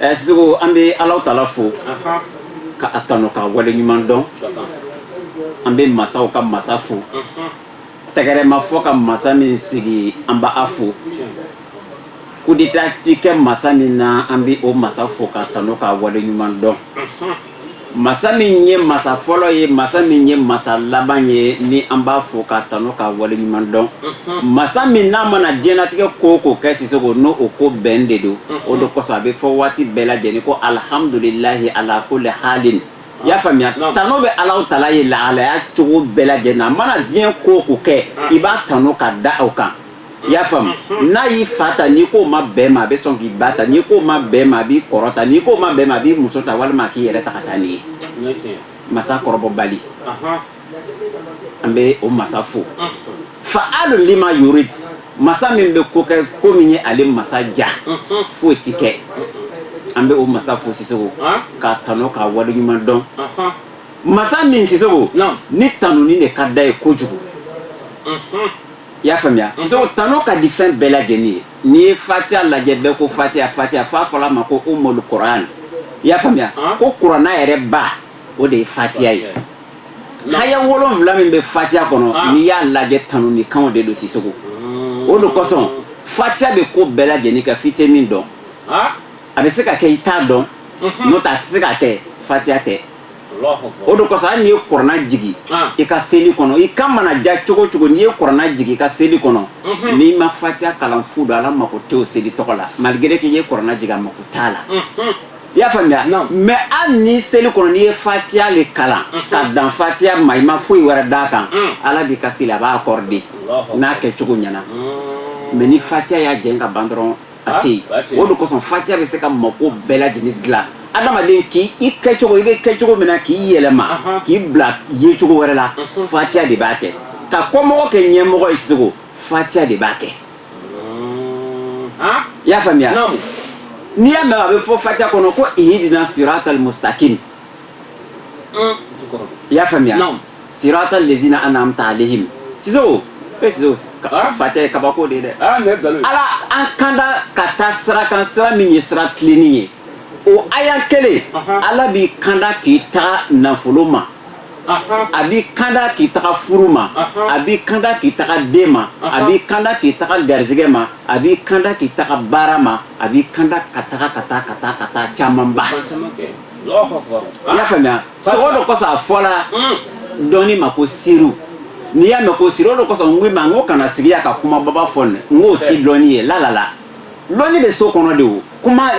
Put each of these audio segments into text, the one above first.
ɛ sisoko an bɛ ala taala fo k'a tanu k'a wale ɲuman dɔn an bɛ masaw ka masa fo tɛgɛrɛ ma fɔ ka masa min sigi an b'a fo kudeta tɛ kɛ masa min na an bɛ o masa fo k'a tanu k'a wale ɲuman dɔn masa min ye masa fɔlɔ ye masa min ye masa laban ye ni an b'a fo k'a tanun k'a wale ɲuman dɔn masa min n'a mana diɲɛnatigɛ ko o ko kɛ sisoko n'o o ko bɛn de don o de kosɔn a bɛ fɔ waati bɛɛ lajɛlen ko alihamdulilayi ala kuli hali i y'a faamuya tanu bɛ ala taala ye lahalaya cogo bɛɛ lajɛlen a mana diɲɛ ko o ko kɛ i b'a tanun ka da o kan i y'a faamu n'a y'i fa ta n'i k'o ma bɛn ma a bɛ sɔn k'i ba ta n'i k'o ma bɛn ma a b'i kɔrɔ ta n'i k'o ma bɛn ma a b'i muso ta walima a k'i yɛrɛ ta ka taa n'i ye masa kɔrɔbɔbali an bɛ o masa fo faalu lima yurid masa min bɛ ko kɛ ko min ye ale masa diya foyi tɛ kɛ an bɛ o masa fo sisoko k'a tanu k'a wale ɲuman dɔn masa min sisoko ni tanuni de ka d'a ye kojugu i y'a faamuya sisoko tanu ka di fɛn bɛɛ lajɛlen ye n'i ye fatiya lajɛ bɛɛ ko fatiya fatiya f'a fɔl'a ma ko umul kuran i y'a faamuya ko kurana yɛrɛ ba o de ye fatiya ye aya wolonwula min bɛ fatiya kɔnɔ ah. n'i y'a lajɛ tanunikanw de don sisoko mm. o de kosɔn fatiya bɛ ko bɛɛ lajɛlen kɛ f'i tɛ min dɔn ah. a bɛ se ka kɛ i t'a dɔn mhm. n'o tɛ a tɛ se ka kɛ fatiya tɛ o de kosɔn hali n'i ye kurana jigi i ka seli kɔnɔ i kan mana diya cogo cogo n'i ye kurana jigi i ka seli kɔnɔ n'i ma fatiya kalan fu don ala mako tɛ o seli tɔgɔ la malgré k'i ye kurana jigin a mako t'a la i y'a faamuya mɛ hali ni seli kɔnɔ n'i ye fatiya de kalan ka dan fatiya ma i ma foyi wɛrɛ d'a kan ala b'i ka seli a b'a accorder n'a kɛcogo ɲɛna mɛ ni fatiya y'a jɛ ka ban dɔrɔn a tɛ yen o de kosɔn fatiya bɛ se ka mako bɛɛ lajɛlen dilan adamaden i kɛcogo i bɛ kɛcogo min na k'i yɛlɛma k'i bila yecogo wɛrɛ la fatiya de b'a kɛ ka kɔmɔgɔ kɛ ɲɛmɔgɔ ye sisoko fatiya de b'a kɛ i y'a faamuya n'i y'a mɛn a bɛ fɔ fatiya kɔnɔ ko ihidina siratal mustakim i y'a faamuya sirata lezina an'amta alehim sisoko e sisoko fatiya ye kabako de ye dɛ ala an kanda ka taa sira kan sira min ye sira tilennen ye o aya kelen ala b'i kanda k'i taga nafolo ma a b'i kanda k'i taga furu ma a b'i kanda k'i taga den ma a b'i kanda k'i taga garisɛgɛ ma a b'i kanda k'i taga baara ma a b'i kanda ka taga ka taa ka taa ka taa camanba i y'a faamuya sogo o de kɔsɔn a fɔla mm. dɔnni ma ko siri n'i y'a mɛn ko siri o de kɔsɔn n ko i ma n ko kana sigi yan ka kuma baba fɔ nin n k'o ti lɔnni ye lalala lɔnni bɛ so kɔnɔ de o kuma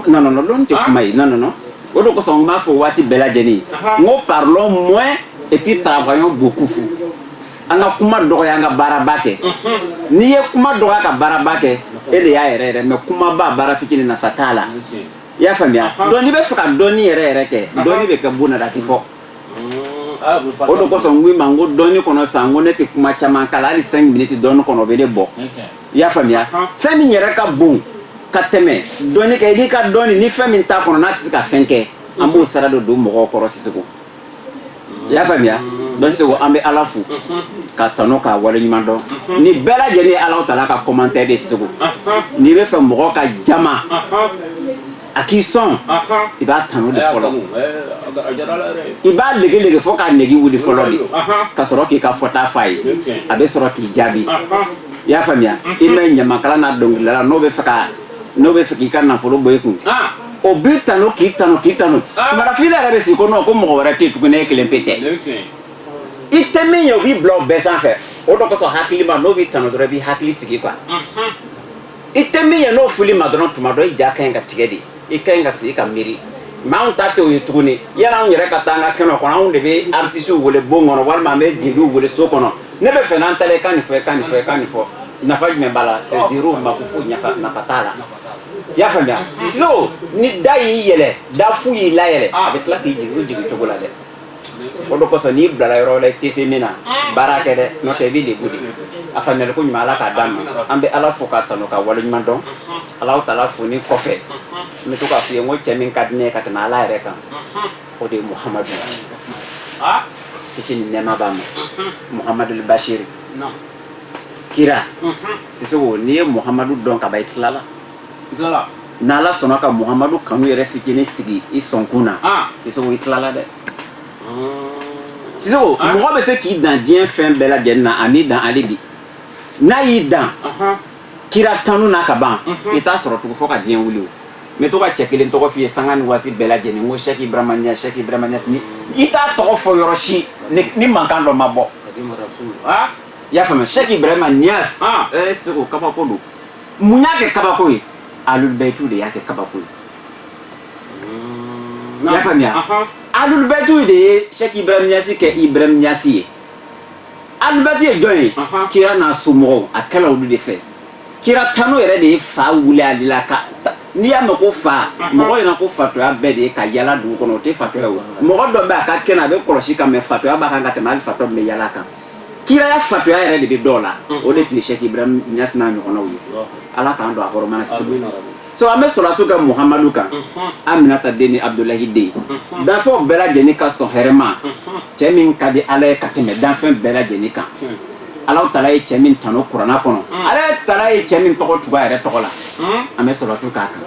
nɔnɔnɔ lɔnni tɛ ah. kuma ye nɔnɔnɔ o de kɔsɔn n b'a fɔ waati bɛɛ lajɛlen n ko parlons moins et puis travaillons beaucoup an ka kuma dɔgɔya an ka baaraba kɛ mhm. n'i ye kuma dɔgɔya ka baaraba kɛ e de y'a yɛrɛ yɛrɛ mɛ kumaba baara fitinin nafa t'a la i y'a faamuya donc n'i bɛ fɛ ka dɔnni yɛrɛ yɛrɛ kɛ dɔnni bɛ kɛ bon na a tɛ fɔ o de kosɔn n ko i ma n ko dɔnni kɔnɔ sa n ko ne tɛ kuma caman kala hali cinq minutes dɔnni kɔnɔ o bɛ ne bɔ i y'a faamuya fɛn min yɛrɛ ka bon ka tɛmɛ dɔnni kɛ i n'i ka dɔnni ni fɛn min t'a kɔnɔ n'a tɛ se ka fɛn kɛ an b'o sara de don mɔgɔw kɔrɔ Sisogo. i y'a faamuya donc segu an bɛ ala fo k'a tanu k'a wale ɲuman dɔn nin bɛɛ lajɛlen ye ala taala ka commentaire de segu n'i bɛ fɛ mɔgɔ ka jama a k'i sɔn i b'a tanu de fɔlɔ i b'a lege lege fɔ k'a nege wuli fɔlɔ de ka sɔrɔ k'i ka fɔta fɔ a ye a bɛ sɔrɔ k'i jaabi i y'a faamuya i ma ɲamakala ni dɔnkilidala n'o bɛ fɛ ka n'o bɛ fɛ k'i ka nafolo bɔ i kun o b'i tanu k'i tanu k'i tanu marafin yɛrɛ bɛ sigi ko n'o ko mɔgɔ wɛrɛ tɛ tuguni e kelen pe tɛ i tɛ min ye o b'i bila o bɛɛ sanfɛ o de kosɔn hakili ma n'o b'i tanu dɔrɔn i b'i hakili sigi quoi i tɛ min ye n'o fɔl'i ma dɔrɔn tuma dɔ i ja ka ɲi ka tigɛ de i ka ɲi ka sigi ka miiri mais anw ta tɛ o ye tuguni yala anw yɛrɛ ka taa an ka kɛnɛ kɔnɔ anw de bɛ artisiw wele bon kɔnɔ walima an bɛ jeliw wele so kɔnɔ ne bɛ fɛ n'an taara i ka nin fɔ i ka nin fɔ i ka nin fɔ nafa jumɛn b'a la c'est zéro makufu nafa nafa t'a la i y'a faamuya sinon ni da y'i yɛlɛ da fu y'i layɛlɛ a bɛ tila k'i jigin o jigin cogo la dɛ o de kosɔn n'i bilara yɔrɔ la i tɛ se min na baara kɛ dɛ n'o tɛ i bɛ lebu de a faamuyali ko ɲuman ala k'a d'an ma an bɛ ala fo k'a tanu k'a wale ɲuman dɔn ala taala foli kɔfɛ n bɛ to k'a f'i ye n ko cɛ min ka di ne ye ka tɛmɛ ala yɛrɛ kan o de ye muhamadu kisi ni nɛɛma b'a ma muhamadu basiri kira sisogo n'i ye muhamadu dɔn ka ban i tilala n'ala sɔnna ka muhamadu kanu yɛrɛ fitinin sigi i sɔnkun na sisogo i tilala dɛ sisogo mɔgɔ bɛ se k'i dan diɲɛ fɛn bɛɛ lajɛlen na a m'i dan hali bi n'a y'i dan kira tanu na ka ban i t'a sɔrɔ tugu fɔ ka diɲɛ wuli o n bɛ to ka cɛ kelen tɔgɔ f'i ye sanga ni waati bɛɛ lajɛlen ko sɛki ibrahima ɲasi sɛki ibrahima ɲasi i t'a tɔgɔ fɔ yɔrɔ si ni mankan dɔ ma bɔ ah, i y'a faamuya sɛki ibrahima ɲas ah, eh, seko kabako don mun y'a kɛ kabako ye alulubɛtu de y'a kɛ kabako ye i y'a faamuya alulubɛtu de ye sɛki ibrahima ɲasi kɛ ibrahima ɲasi ye alibati ye jɔn ye kira n'a somɔgɔw a kɛla olu de fɛ kira tanu yɛrɛ de ye fa wuli ale la ka n'i y'a mɛn ko fa mɔgɔ ɲɛna ko fatɔya bɛɛ de ye ka yala dugu kɔnɔ o tɛ fatɔya o mɔgɔ dɔ bɛ a ka kɛnɛ a bɛ kɔlɔsi kan mɛ fatɔya b'a kan ka tɛmɛ hali fatɔ min bɛ yala kan kiraya fatɔya yɛrɛ de bɛ dɔw la o de tun ye sɛki ibrahim ɲasi n'a ɲɔgɔnnaw ye ala k'an don a hɔrɔma na si so an bɛ sɔlatu kɛ muhamadu kan aminata den ni abudulayi den danfɛnw bɛɛ lajɛlen ka sɔn hɛrɛma cɛ min ka di ala ye ka tɛmɛ danfɛn bɛɛ lajɛlen kan ala tala ye cɛ min tanu kuranna kɔnɔ ala tala ye cɛ min tɔgɔ tugu a yɛrɛ tɔgɔ la an bɛ sɔlatu k'a kan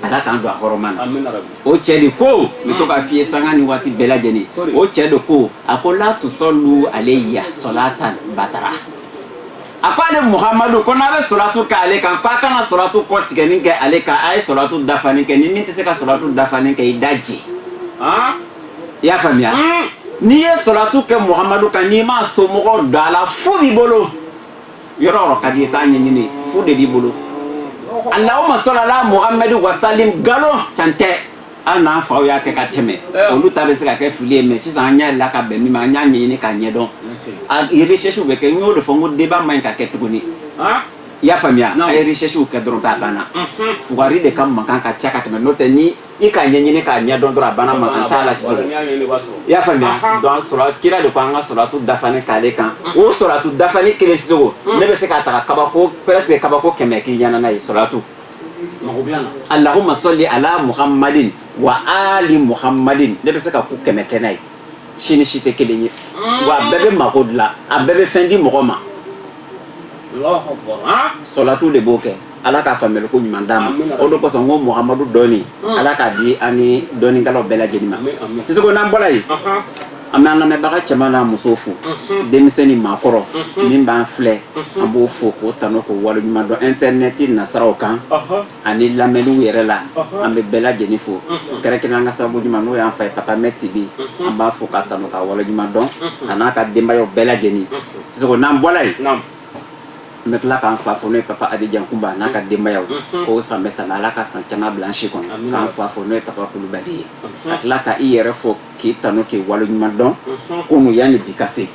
ala k'an don a hɔrɔma na o cɛ de ko n bɛ to k'a f'i ye sanga ni waati bɛɛ lajɛlen o cɛ de ko a ko la tusɔlu aleya sɔlatan batara a ko ale muhamadu ko n'a bɛ sɔlatu kɛ ale kan k'a kana sɔlatu kɔtigɛni kɛ ale kan a ye sɔlatu dafalen kɛ ni min tɛ se ka sɔlatu dafalen kɛ i da jɛ i y'a faamuya hmm. n'i ye sɔlatu kɛ muhamadu kan n'i m'a somɔgɔ don a la fu b'i bolo yɔrɔ yɔrɔ ka d'i ye t'a ɲɛɲini fu de b'i bolo alahuma sɔlala muhamadu wasalim nkalon can tɛ hali n'an faw y'a kɛ ka tɛmɛ eh. olu ta bɛ se ka kɛ fili ye mɛ sisan an y'a la ka bɛn min ma an y'a ɲɛɲini k'a ɲɛdɔn a recherche bɛ kɛ n y'o de fɔ n ko débat man ɲi ka kɛ tuguni ah. i y'a faamuya n'a ye recherche kɛ dɔrɔn k'a banna mhm. fugari de ka mankan ka ca ka tɛmɛ n'o tɛ ni i k'a ɲɛɲini k'a ɲɛdɔn dɔrɔn a banna mankan t'a la sisan i y'a faamuya donc sɔrɔ kira de ko an ka sɔlatu dafani k'ale kan mhm. o sɔlatu dafani kelen sisan o mhm. ne bɛ se k'a ta ka kabako presque kabako kɛmɛ k'i ɲɛna n'a ye sɔlatu mago bɛ yan alahuma sɔli ala muhammadin wa ali muhammadin ne bɛ se ka ko kɛmɛ kɛ n'a ye si ni si tɛ kelen ye wa a bɛɛ bɛ mago dilan a bɛɛ bɛ fɛn di mɔgɔ ma sɔlatu de b'o kɛ ala ka faamuyali ko ɲuman d'an ma o de kosɔn ko muhamadu dɔnni ala k'a di an ni dɔnnikɛlaw bɛɛ lajɛlen ma siseko n'an bɔra yen an bɛ an lamɛnbaga cɛman n'a muso fo denmisɛn ni maakɔrɔ min b'an filɛ an b'o fo k'o tanu k'o waleɲuman dɔn intɛrinɛti nasiraw kan ani lamɛnniw yɛrɛ la an bɛ bɛɛ lajɛlen fo kɛrɛnkɛrɛn an ka sababu ɲuman n'o y'an fa ye papa mɛ tibi an b'a fo k'a tanu k'a waleɲuman dɔn a n'a ka denbayaw bɛɛ lajɛlen sisan n'an bɔla yen n bɛ tila k'an fa fo n'o ye papa adi jankunba n'a ka denbayaw k'o san bɛ san ala ka san caman bila an si kɔnɔ k'an fa fo n'o ye papa kulubali ye ka tila ka i yɛrɛ fo k'i tanu k'i waleɲuman dɔn kunun yanni bi ka se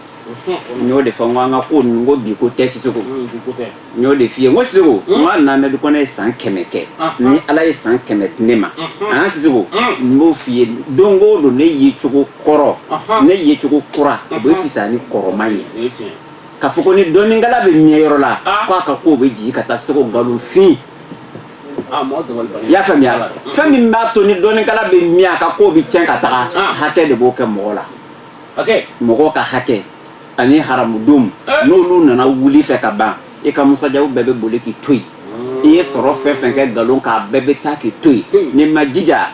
n y'o de fɔ n ko an ka ko ninnu ko bi ko tɛ siseko n y'o de f'i ye n ko siseko n ko hali n'amɛdi kɔnɛ ye san kɛmɛ kɛ ni ala ye san kɛmɛ di ne ma an siseko n b'o f'i ye don o don ne ye cogo kɔrɔ ne ye cogo kura o bɛ fisaya ni kɔrɔma ye ka fɔ ko ni dɔnnikɛla bɛ mɛɛn yɔrɔ la k'a ka kow bɛ jigin ka taa siseko nkalonfin Ah, i y'a faamuya fɛn min b'a to ni dɔnnikɛla bɛ mi ka ko bɛ tiɲɛ ka taga ah. hakɛ de b'o kɛ mɔgɔ la mɔgɔ ka hakɛ ani haramu dun eh. n'olu nana wuli i fɛ ka ban i ka musajabu bɛɛ bɛ boli k'i to yen i ye sɔrɔ fɛn fɛn kɛ nkalon kan a bɛɛ bɛ taa k'i to yen n'i ma jija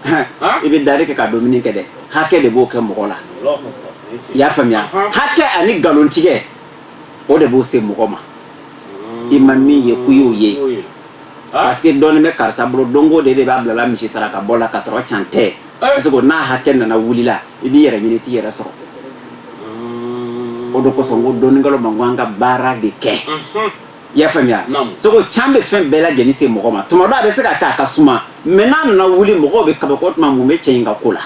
ah. i bɛ dari kɛ ka dumuni kɛ dɛ hakɛ de b'o kɛ mɔgɔ la i y'a faamuya hakɛ ani nkalontigɛ o de b'o se mɔgɔ ma i ma min ye ko i y'o ye parce que dɔɔnin bɛ karisa bolo donc o de de b'a bilala misi saraka bɔ la ka sɔrɔ can tɛ Sisoko n'a hakɛ nana wulila i b'i yɛrɛ ɲini i t'i yɛrɛ sɔrɔ o de kosɔn ko dɔnnikɛlaw ma n ko an ka baara de kɛ i y'a faamuya Sisoko can bɛ fɛn bɛɛ lajɛlen se mɔgɔ ma tuma dɔ a bɛ se ka kɛ a ka suma mais n'a nana wuli mɔgɔw bɛ kabako tuma mun bɛ cɛ in ka ko la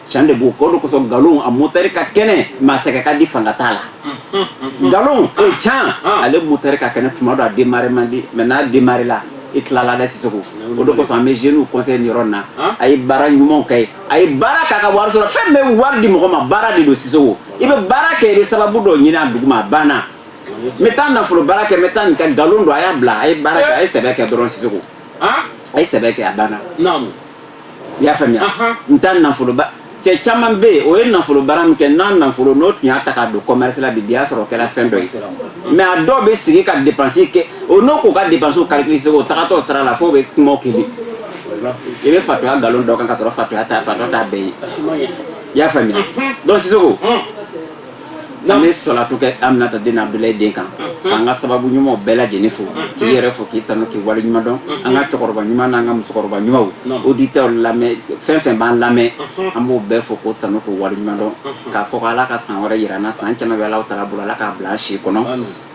Can de b'o kɛ o de kosɔn nkalon a moteur ka kɛnɛ mais a sɛgɛn ka di fanga t'a la nkalon o can ale moteur ka kɛnɛ tuma dɔ a démarrer man di mais n'a démarrer la i tilala dɛ Sisoko o de kosɔn an bɛ jeunew conseiller yɔrɔ na a ye baara ɲuman kɛ a ye baara kɛ ka wari sɔrɔ fɛn bɛ wari di mɔgɔ ma baara de don Sisoko i bɛ baara kɛ i bɛ sababu dɔ ɲinin a duguma a banna n bɛ taa nafolo baara kɛ bɛ taa nin kɛ nkalon don a y'a bila a ye baara a ye sɛbɛ kɛ dɔrɔn Sisoko a ye sɛbɛ kɛ a banna i y'a faamuya n ta nafolo baara cɛ caman bɛ yen o ye nafolo baara min kɛ n'a nafolo n'o tun y'a ta k'a don commerce la bi bi y'a sɔrɔ o kɛra fɛn dɔ ye mais a dɔw bɛ sigi ka dépense kɛ o n'i k'u ka dépense calculer Sisoko o tagatɔ sira la f'o bɛ kuma o kelen i bɛ fatɔya nkalon d'o kan ka sɔrɔ fatɔya t'a fatɔya t'a bɛɛ ye i y'a faamuya donc Sisoko An bɛ solatu kɛ Aminata den Abdulayi den kan k'an ka sababu ɲumanw bɛɛ lajɛlen fo k'i yɛrɛ fo k'i tanu k'i waleɲuman dɔn an ka cɛkɔrɔba ɲuman n'an ka musokɔrɔba ɲuman auditeur lamɛn fɛn fɛn b'an lamɛn an b'o bɛɛ fo k'o tanu k'o waleɲuman dɔn k'a fɔ k' ala ka san wɛrɛ jira an na san caman bɛ ala taala bolo ala k'a bila an si kɔnɔ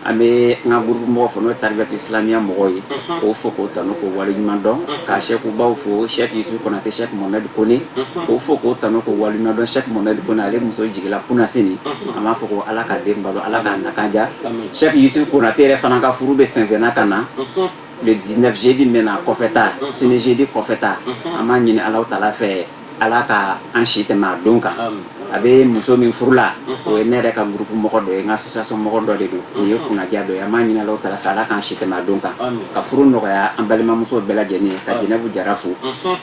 An bɛ an ka groupe mɔgɔ fo n'o ye taribiyati islamiya mɔgɔw ye, unhun, k'o fo k'o tanu k'o waleɲuman dɔn, unhun, ka Sɛki baw fo Sɛki Yusufu Konate Sɛki Mohamɛdi Kone, unhun, k'o fo k'o tanu k'o waleɲuman dɔn Sɛki Mohamɛdi Kone ale muso jigila kunasini, unhun, an b'a fɔ ko Ala ka den balo Ala k'a nakan diya, amin, Sɛki Yusufu Konate yɛrɛ fana ka furu bɛ sɛnsɛnna ka na, unhun, le 19 jeudi min bɛ na kɔfɛta, unhun, sini jeudi kɔfɛta, unhun, an b'a ɲini Alahu taala fɛ ala ka an si tɛmɛ a don kan a bɛ muso min furu la o ye ne yɛrɛ ka groupe mɔgɔ dɔ ye n ka association mɔgɔ dɔ de don o ye kunnadiya dɔ ye an b'a ɲinin ala taala fɛ ala k'an si tɛmɛ a don kan ka furu nɔgɔya an balimamuso bɛɛ lajɛlen ye ka Jɛnɛbu Jara fo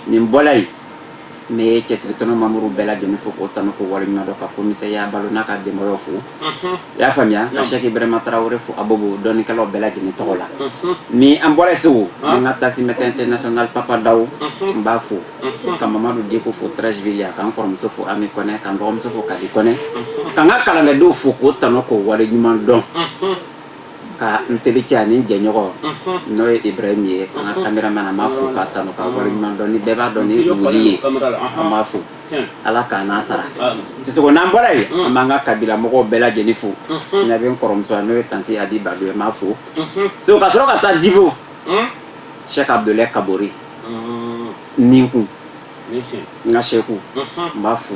min bɔra yen ne ye cɛsiri tɔnɔ mamuru bɛɛ lajɛlen fo k'o tanu k'o waleɲuman dɔn ka commissaire Balo n'a ka denbaya fo i y'a faamuya ka sɛki ibrahima tarawele fo abobo dɔnnikɛlaw bɛɛ lajɛlen tɔgɔ la ni an bɔra segu an ka taxi mɛtɛ international papa daw n b'a fo ka mamadu diko fo trɛsivili yan k'an kɔrɔmuso fo ami kɔnɛ k'an dɔgɔmuso fo kadi kɔnɛ k'an ka kalankɛdenw fo k'o tanu k'o wale ɲuman dɔn ka n tericɛ ani jɛɲɔgɔn n'o ye ibrahim ye an ka kameraman an b'a fo k'a tanu k'a wale ɲuman dɔn ni bɛɛ b'a dɔn ni wuli ye an b'a fo ala k'a n'a sara sisoko n'an bɔra yen an b'an ka kabila mɔgɔw bɛɛ lajɛlen fo na bɛ n kɔrɔmuso n'o ye tante a di babu ma fo segu ka sɔrɔ ka taa divo sɛki abdulayi kabori nin kun n ka sɛku n b'a fo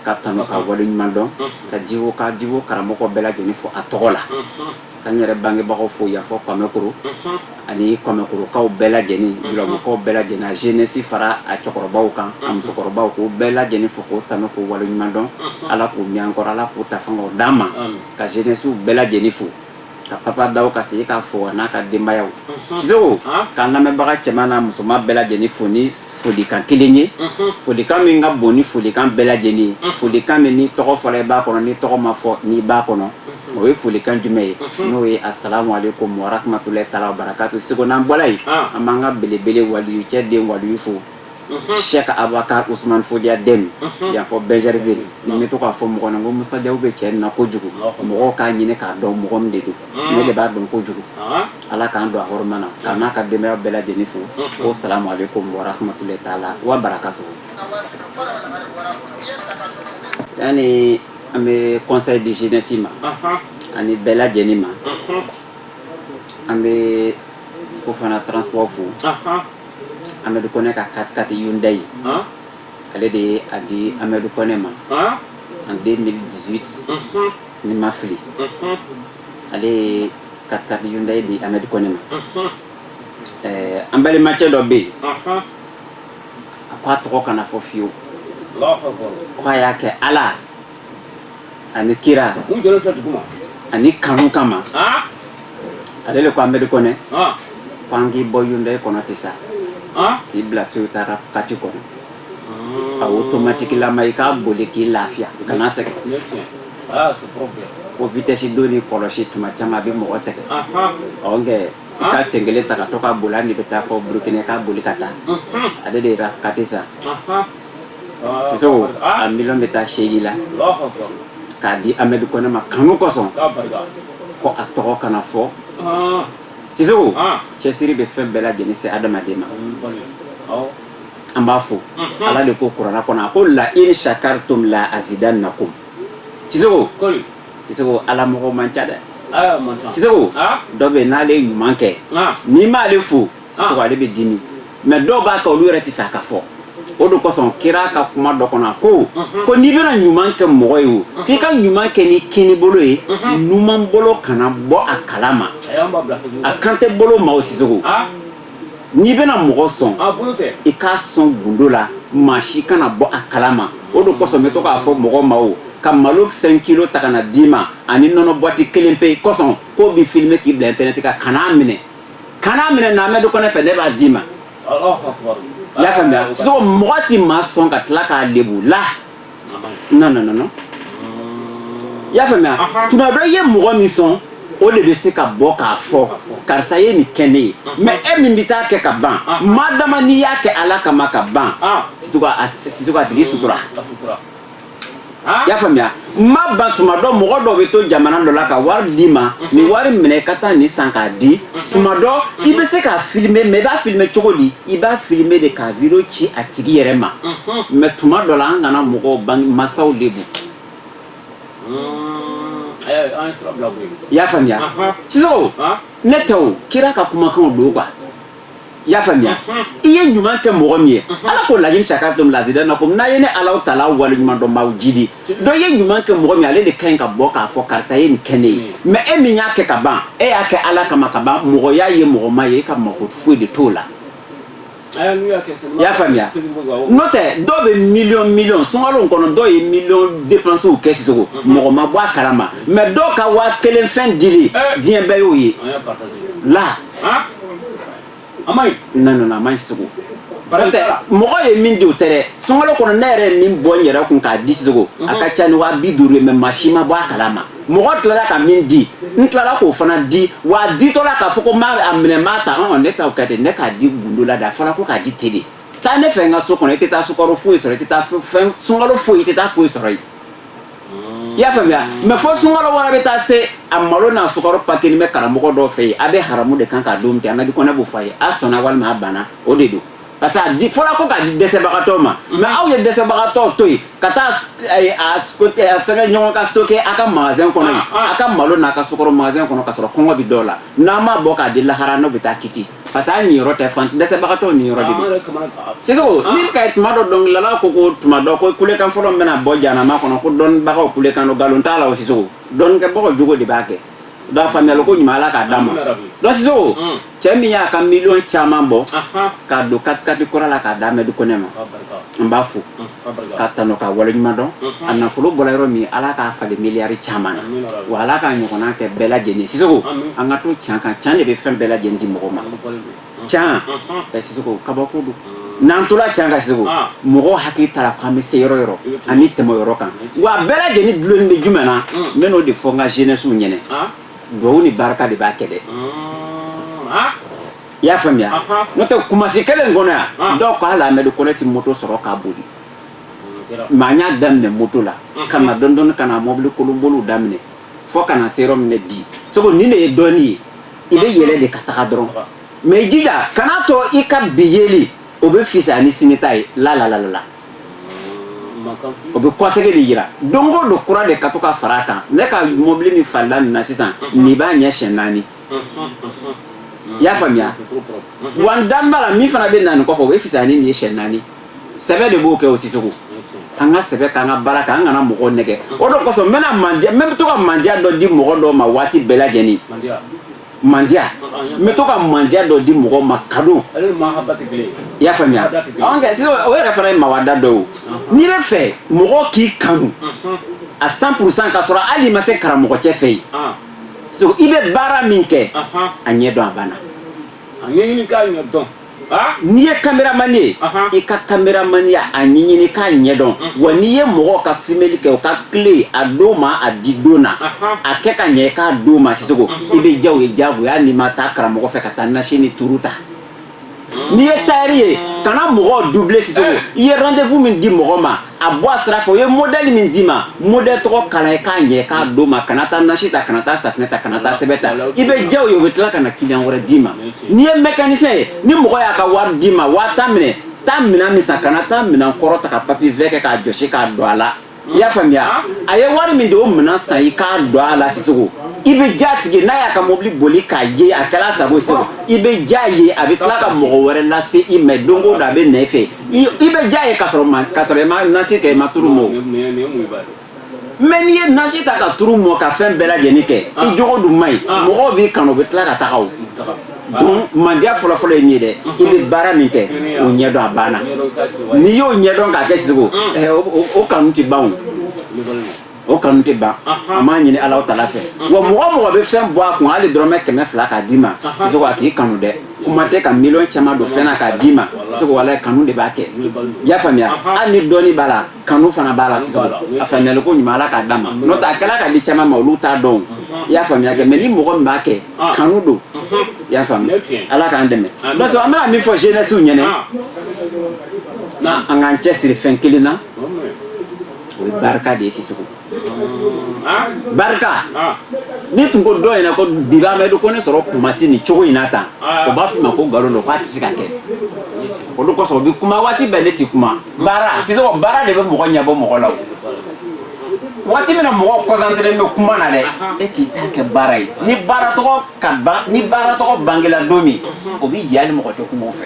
k'a tanu k'a wale ɲuman dɔn ka divo ka divo karamɔgɔw bɛɛ lajɛlen fo a tɔgɔ la Ka n yɛrɛ bangebagaw fo yan fɔ Kɔmɛkoro, unhun, ani Kɔmɛkorokaw bɛɛ lajɛlen, unhun, Jurabɔkaw bɛɛ lajɛlen, a jeunesse fara a cɛkɔrɔbaw kan, unhun, a musokɔrɔbaw k'u bɛɛ lajɛlen fo k'u tanu k'u waleɲuman dɔn, unhun, Ala k'u mɛn an kɔrɔ, Ala k'u ta fanga d'an ma, amin, ka jeunesse bɛɛ lajɛlen fo, ka Papa Dawu ka segin k'a fo a n'a ka denbayaw, unhun, Sisoko, han, k'an lamɛnbaga cɛman n'a musoman bɛɛ lajɛlen fo ni folikan kelen ye, unhun, folikan min ka bon ni folikan bɛɛ lajɛlen ye, unhun, folikan min n'i tɔgɔ fɔra i b'a kɔnɔ, n'i tɔgɔ ma fɔ i b'a kɔnɔ. o ye folikan jumɛn ye n'o ye asalamu aleyikum warahamatulayi taala wabarakatu sisoko n'an bɔra yen an b'an ka belebele waliyu cɛ den waliyu fo sɛki abakari usumani fɔdiya den y'a fɔ bɛɛri bɛ yen bɛ to k'a fɔ mɔgɔ na ko musa jaw bɛ cɛ na kojugu mɔgɔ k'a ɲini k'a dɔn mɔgɔ min de don ne de b'a dɔn kojugu ala k'an don a hɔrɔma na k'a n'a ka denbaya bɛɛ lajɛlen fo o salamu aleyikum warahamatulayi taala wabarakatu An bɛ kɔnsan di jsi ma ani bɛɛ lajɛlen ma an bɛ fo fana tso fo anri kɔnɛ ka ka kati yda ye ale de ye a di anmeri kɔnɛ ma an den z ni ma fili ale ye ka kata ye di anmeri kɔnɛ ma ɛɛ an balimacɛ dɔ bɛ yen a ko a tɔgɔ kana fɔ fiyewu ko a y'a kɛ ala ani kira ani kanu kama ale le ko amadu kɔnɛ ko an k'i bɔ hyundai kɔnɔ sisan k'i bila toyota katikati kɔnɔ a otomatikilama i k'a boli k'i lafiya kana sɛgɛn ko vitɛsi donni kɔlɔsi tuma caman a bɛ mɔgɔ sɛgɛn ɔ nkɛ i ka sen kelen ta ka to ka boli hali n'i bɛ taa fɔ burukina k'a boli ka taa ale de ye rafkati san sisoko a miliyɔn bɛ taa seegin la k'a di amadu kɔnɛ ma kanu kosɔn ko a tɔgɔ kana fɔ sisoko cɛsiri bɛ fɛn bɛɛ lajɛlen se adamaden ma an b'a fo ala de ko kuranɛ kɔnɔ a ko la in sakaritum la azidanakum sisoko ala mɔgɔ man ca dɛ dɔ bɛ n'ale ye ɲuman kɛ n'i m'ale fo ale bɛ dimi mɛ dɔw b'a kɛ olu yɛrɛ t'a fɛ a ka fɔ o de kosɔn kira ka kuma dɔ kɔnɔ ko ko n'i bɛna ɲuman kɛ mɔgɔ ye k'i ka ɲuman kɛ ni kini bolo ye numan bolo kana bɔ a kala ma a kan tɛ bolo ma sisogo n'i bɛna mɔgɔ sɔn i k'a sɔn gundo la maa si kana bɔ a kala ma o de kosɔn n bɛ to k'a fɔ mɔgɔw ma u ka malo cinq kilo ta ka n'a d'i ma ani nɔnɔ bɔti kelen pe kosɔn k'u b'i filime k'i bila internet kan kan'a minɛ kan'a minɛ na amɛdi kɔnɛ fɛ ne b'a d'i ma y'a faamuya so mɔgɔ tɛ maa sɔn ka tila k'a lebu la non non non non i y'a faamuya tuma dɔ i ye mɔgɔ min sɔn o de bɛ se ka bɔ k'a fɔ karisa ye nin kɛ ne ye mɛ e min bɛ taa a kɛ ka ban maa dama n'i y'a kɛ ala kama ka ban sisogo a tigi sutura i y'a faamuya mɛ bon tuma dɔ mɔgɔ dɔ bɛ to jamana dɔ la ka wari d'i ma nin wari minɛ ka taa nin san k'a di tuma dɔ i bɛ se k'a filime mɛ i b'a filime cogo di i b'a filime de k'a video ci a tigi yɛrɛ ma mɛ tuma dɔ la an kana mɔgɔw bange masaw lebu i y'a faamuya sisogo ne tɛ o kira ka kumakanw don quoi i y'a faamuya i ye ɲuman kɛ mɔgɔ min ye ala ko layini sakaritum lazidanakum n'a ye ne alahu taala wale ɲuman dɔn n b'aw jidi dɔ ye ɲuman kɛ mɔgɔ min ale de ka ɲi ka bɔ k'a fɔ karisa ye nin kɛ ne ye mm. mɛ e min y'a kɛ ka ban e y'a kɛ ala kama ka ban mɔgɔ y'a ye mɔgɔ m'a ye e ka mako foyi de t'o la i y'a faamuya n'o tɛ dɔw bɛ miliyɔn miliyɔn sunkalo kɔnɔ dɔw ye miliyɔn depansiw kɛ sisogo mm-hmm. mɔgɔ ma bɔ a kalama mɛ dɔw ka waa kelen fɛn dili eh. diɲɛ bɛɛ y'o ye la a man ɲi a man ɲi sisogo mɔgɔ ye min di tɛ sunkalo kɔnɔ ne yɛrɛ ye min bɔ n yɛrɛ kun k'a di sisogo a ka ca ni waa bi duuru ye mɛ maa si ma bɔ a kala ma mɔgɔ tilala ka min di n tilala k'o fana di wa a ditɔla k'a fɔ ko a minɛ maa ta ne ta ka ne k'a di gundo la de a fɔra ko k'a di ten de taa ne fɛ n ka so kɔnɔ i tɛ taa sukaro foyi sɔrɔ i tɛ taa sukaro foyi i tɛ taa foyi sɔrɔ yen i y'a faamuya mɛ fo sunkalo wɛrɛ bɛ taa se a malo n'a sukaro pakelen bɛ karamɔgɔ dɔ fɛ yen a bɛ haramu de kan k'a dun ten amɛdi kɔnɛ b'o f'a ye a sɔnna walima a banna o de don parce que a di fɔlɔ ko k'a di dɛsɛbagatɔ ma mɛ aw ye dɛsɛbagatɔ to yen ka taa a sigi ɲɔgɔn kan stocker a ka magasin kɔnɔ a ka malo n'a ka sukaro magasin kɔnɔ ka sɔrɔ kɔngɔ bɛ dɔw la n'a m'a bɔ k'a di lahara n'o bɛ taa kiti parce que ale niyɔrɔ tɛ fan dɛsɛbagatɔw niyɔrɔ de don sisogo ah. ni ka tuma dɔ dɔnkilidala ko ko tuma dɔ ko kulekan fɔlɔ min bɛna bɔ jahanama kɔnɔ ko dɔnnibagaw kulekan don nkalon t'a la o sisogo dɔnnikɛbagaw jogo de b'a kɛ donc faamuyali ko ɲuman ala k'a d'an ma donc sisogo hmm. cɛ min y'a ka miliyɔn caman bɔ k'a don katikati kura la k'a d'amɛdi kɔnɛ ma n b'a fo hmm. ka tanu ka waleɲuman dɔn a nafolo bɔra yɔrɔ min ala k'a falen miliyari caman na wa ala k'a ɲɔgɔn kɛ bɛɛ lajɛlen sisoko an ka to ca kan ca de bɛ fɛn bɛɛ lajɛlen di mɔgɔ ma ca ka si kabako don n'an tola ca kan sisoko mɔgɔ hakili taara k'an bɛ se yɔrɔ yɔrɔ ani tɛmɛ yɔrɔ kan wa bɛɛ lajɛlen dulonnen bɛ jumɛn na n b'o de fɔ n ka zenɛsiw ɲɛ na dugawu ni barika de b'a kɛ dɛ i y'a faamuya n'o tɛ kumasi kelen kɔnɔ yan ah. dɔw ko hali amadu kɔnɛ tɛ moto sɔrɔ k'a boli mɛ n y'a daminɛ moto la mm-hmm. ka na dɔɔni dɔɔni ka na mɔbili kolon boli daminɛ fo ka na se yɔrɔ min bi sisoko nin de ye dɔɔni ye i bɛ yɛlɛ de ka taga dɔrɔn mɛ i jija kan'a to i ka bi yeli o bɛ fisaya ni sini ta ye la la la la o bɛ kɔsegin de yira don o don kura de ka to ka fara a kan ne ka mɔbili min falenna nin na sisan mm-hmm. nin b'a ɲɛ siɲɛ naani i y'a faamuya wa n dalen b'a la min fana bɛ na nin kɔfɛ o bɛ fisaya ni nin ye siɲɛ naani sɛbɛ de b'o kɛ o sisoko an ka sɛbɛ k'an ka baara kɛ an kana mɔgɔw nɛgɛ o de kosɔn n bɛ to ka mandiya dɔ di mɔgɔ dɔw ma waati bɛɛ lajɛlen mandiya n bɛ to ka mandiya dɔ di mɔgɔ ma kado i y'a faamuya kɛ sisan o yɛrɛ fana ye mawada dɔ ye n'i bɛ fɛ mɔgɔ k'i kanu a cent pour cent ka sɔrɔ hali i ma se karamɔgɔ cɛ fɛ yen so i bɛ baara min kɛ a ɲɛ dɔn a banna a ɲɛɲini k'a ɲɛ dɔn n'i ye kameramani ye i ka kameramaniya a ɲɛɲini k'a ɲɛ dɔn wa n'i ye mɔgɔ ka fimeli kɛ u ka clé a d'u ma a di don na a kɛ ka ɲɛ k'a d'u ma sisoko i bɛ diya u ye jagoya n'i ma taa karamɔgɔ fɛ ka taa nasi ni turu ta n'i ye tayɛri ye kana mɔgɔ duble sisoko eh. i ye rendez-vous min di mɔgɔ ma a bɔ a sira fɛ o ye modèle min d'i ma modèle tɔgɔ kala u ye k'a ɲɛ k'a d'u ma kana taa nasi ta kana taa safinɛ ta kana taa sɛbɛn ta i bɛ diya u ye u bɛ tila ka na kiliyan wɛrɛ d'i ma n'i ye mécanicien ye ni mɔgɔ y'a ka wari d'i ma waa tan minɛ taa minɛn min san kana taa minɛn kɔrɔ ta ka papier verre kɛ k'a jɔsi k'a don a la i y'a faamuya a ye wari min di o minɛn san i k'a don a la sisoko i bɛ diya a tigi ye n'a y'a ka mobili boli k'a ye a kɛra a sago ye sisan i bɛ diya a ye a bɛ tila ka mɔgɔ wɛrɛ lase i ma don o don a bɛ na i fɛ i bɛ diya a ye ka sɔrɔ ma ka sɔrɔ i ma nasi kɛ i ma turu mɔ mɛ n'i ye nasi ta ka turu mɔ ka fɛn bɛɛ lajɛlen kɛ i jogo dun man ɲi mɔgɔw b'i kanu u bɛ tila ka taga o bon mandiya fɔlɔfɔlɔ ye min ye dɛ i bɛ baara min kɛ o ɲɛdɔn a banna n'i y'o ɲɛdɔn k'a kɛ sisoko o kanu tɛ ban o kanu tɛ ban an b'a ɲini ala taala fɛ wa mɔgɔ o mɔgɔ bɛ fɛn bɔ a kun hali dɔrɔmɛ kɛmɛ fila k'a d'i ma sisoko a k'i kanu dɛ kuma tɛ ka miliyɔn caman don fɛn na k'a d'i ma sisoko walayi kanu de b'a kɛ i y'a faamuya hali ni dɔɔnin b'a la kanu fana b'a la sisoko a faamuyali ko ɲuman ala k'a d'an ma n'o tɛ a kɛla ka di caman ma olu t'a dɔn i y'a faamuya kɛ mɛ ni mɔgɔ min b'a kɛ kanu don i y'a faamu ala k'an dɛmɛ parce que an bɛna min fɔ jeunesse ɲɛnɛ an k'an cɛ siri fɛn kelen na o ye barika de ye sisoko barika n'i tun ko dɔ ɲɛna ko bi b'amadu kɔnɛ sɔrɔ kumasi nin cogo in na tan o b'a f'i ma ko nkalon don k'a tɛ se ka kɛ o de kosɔn u bɛ kuma waati bɛɛ ne tɛ kuma baara sisoko baara de bɛ mɔgɔ ɲɛbɔ mɔgɔ la waati min na mɔgɔ concentrélen bɛ kuma na dɛ e k'i ta kɛ baara ye ni baara tɔgɔ ka ban ni baara tɔgɔ bangela don min o b'i jɛya hali mɔgɔ tɛ kuma fɛ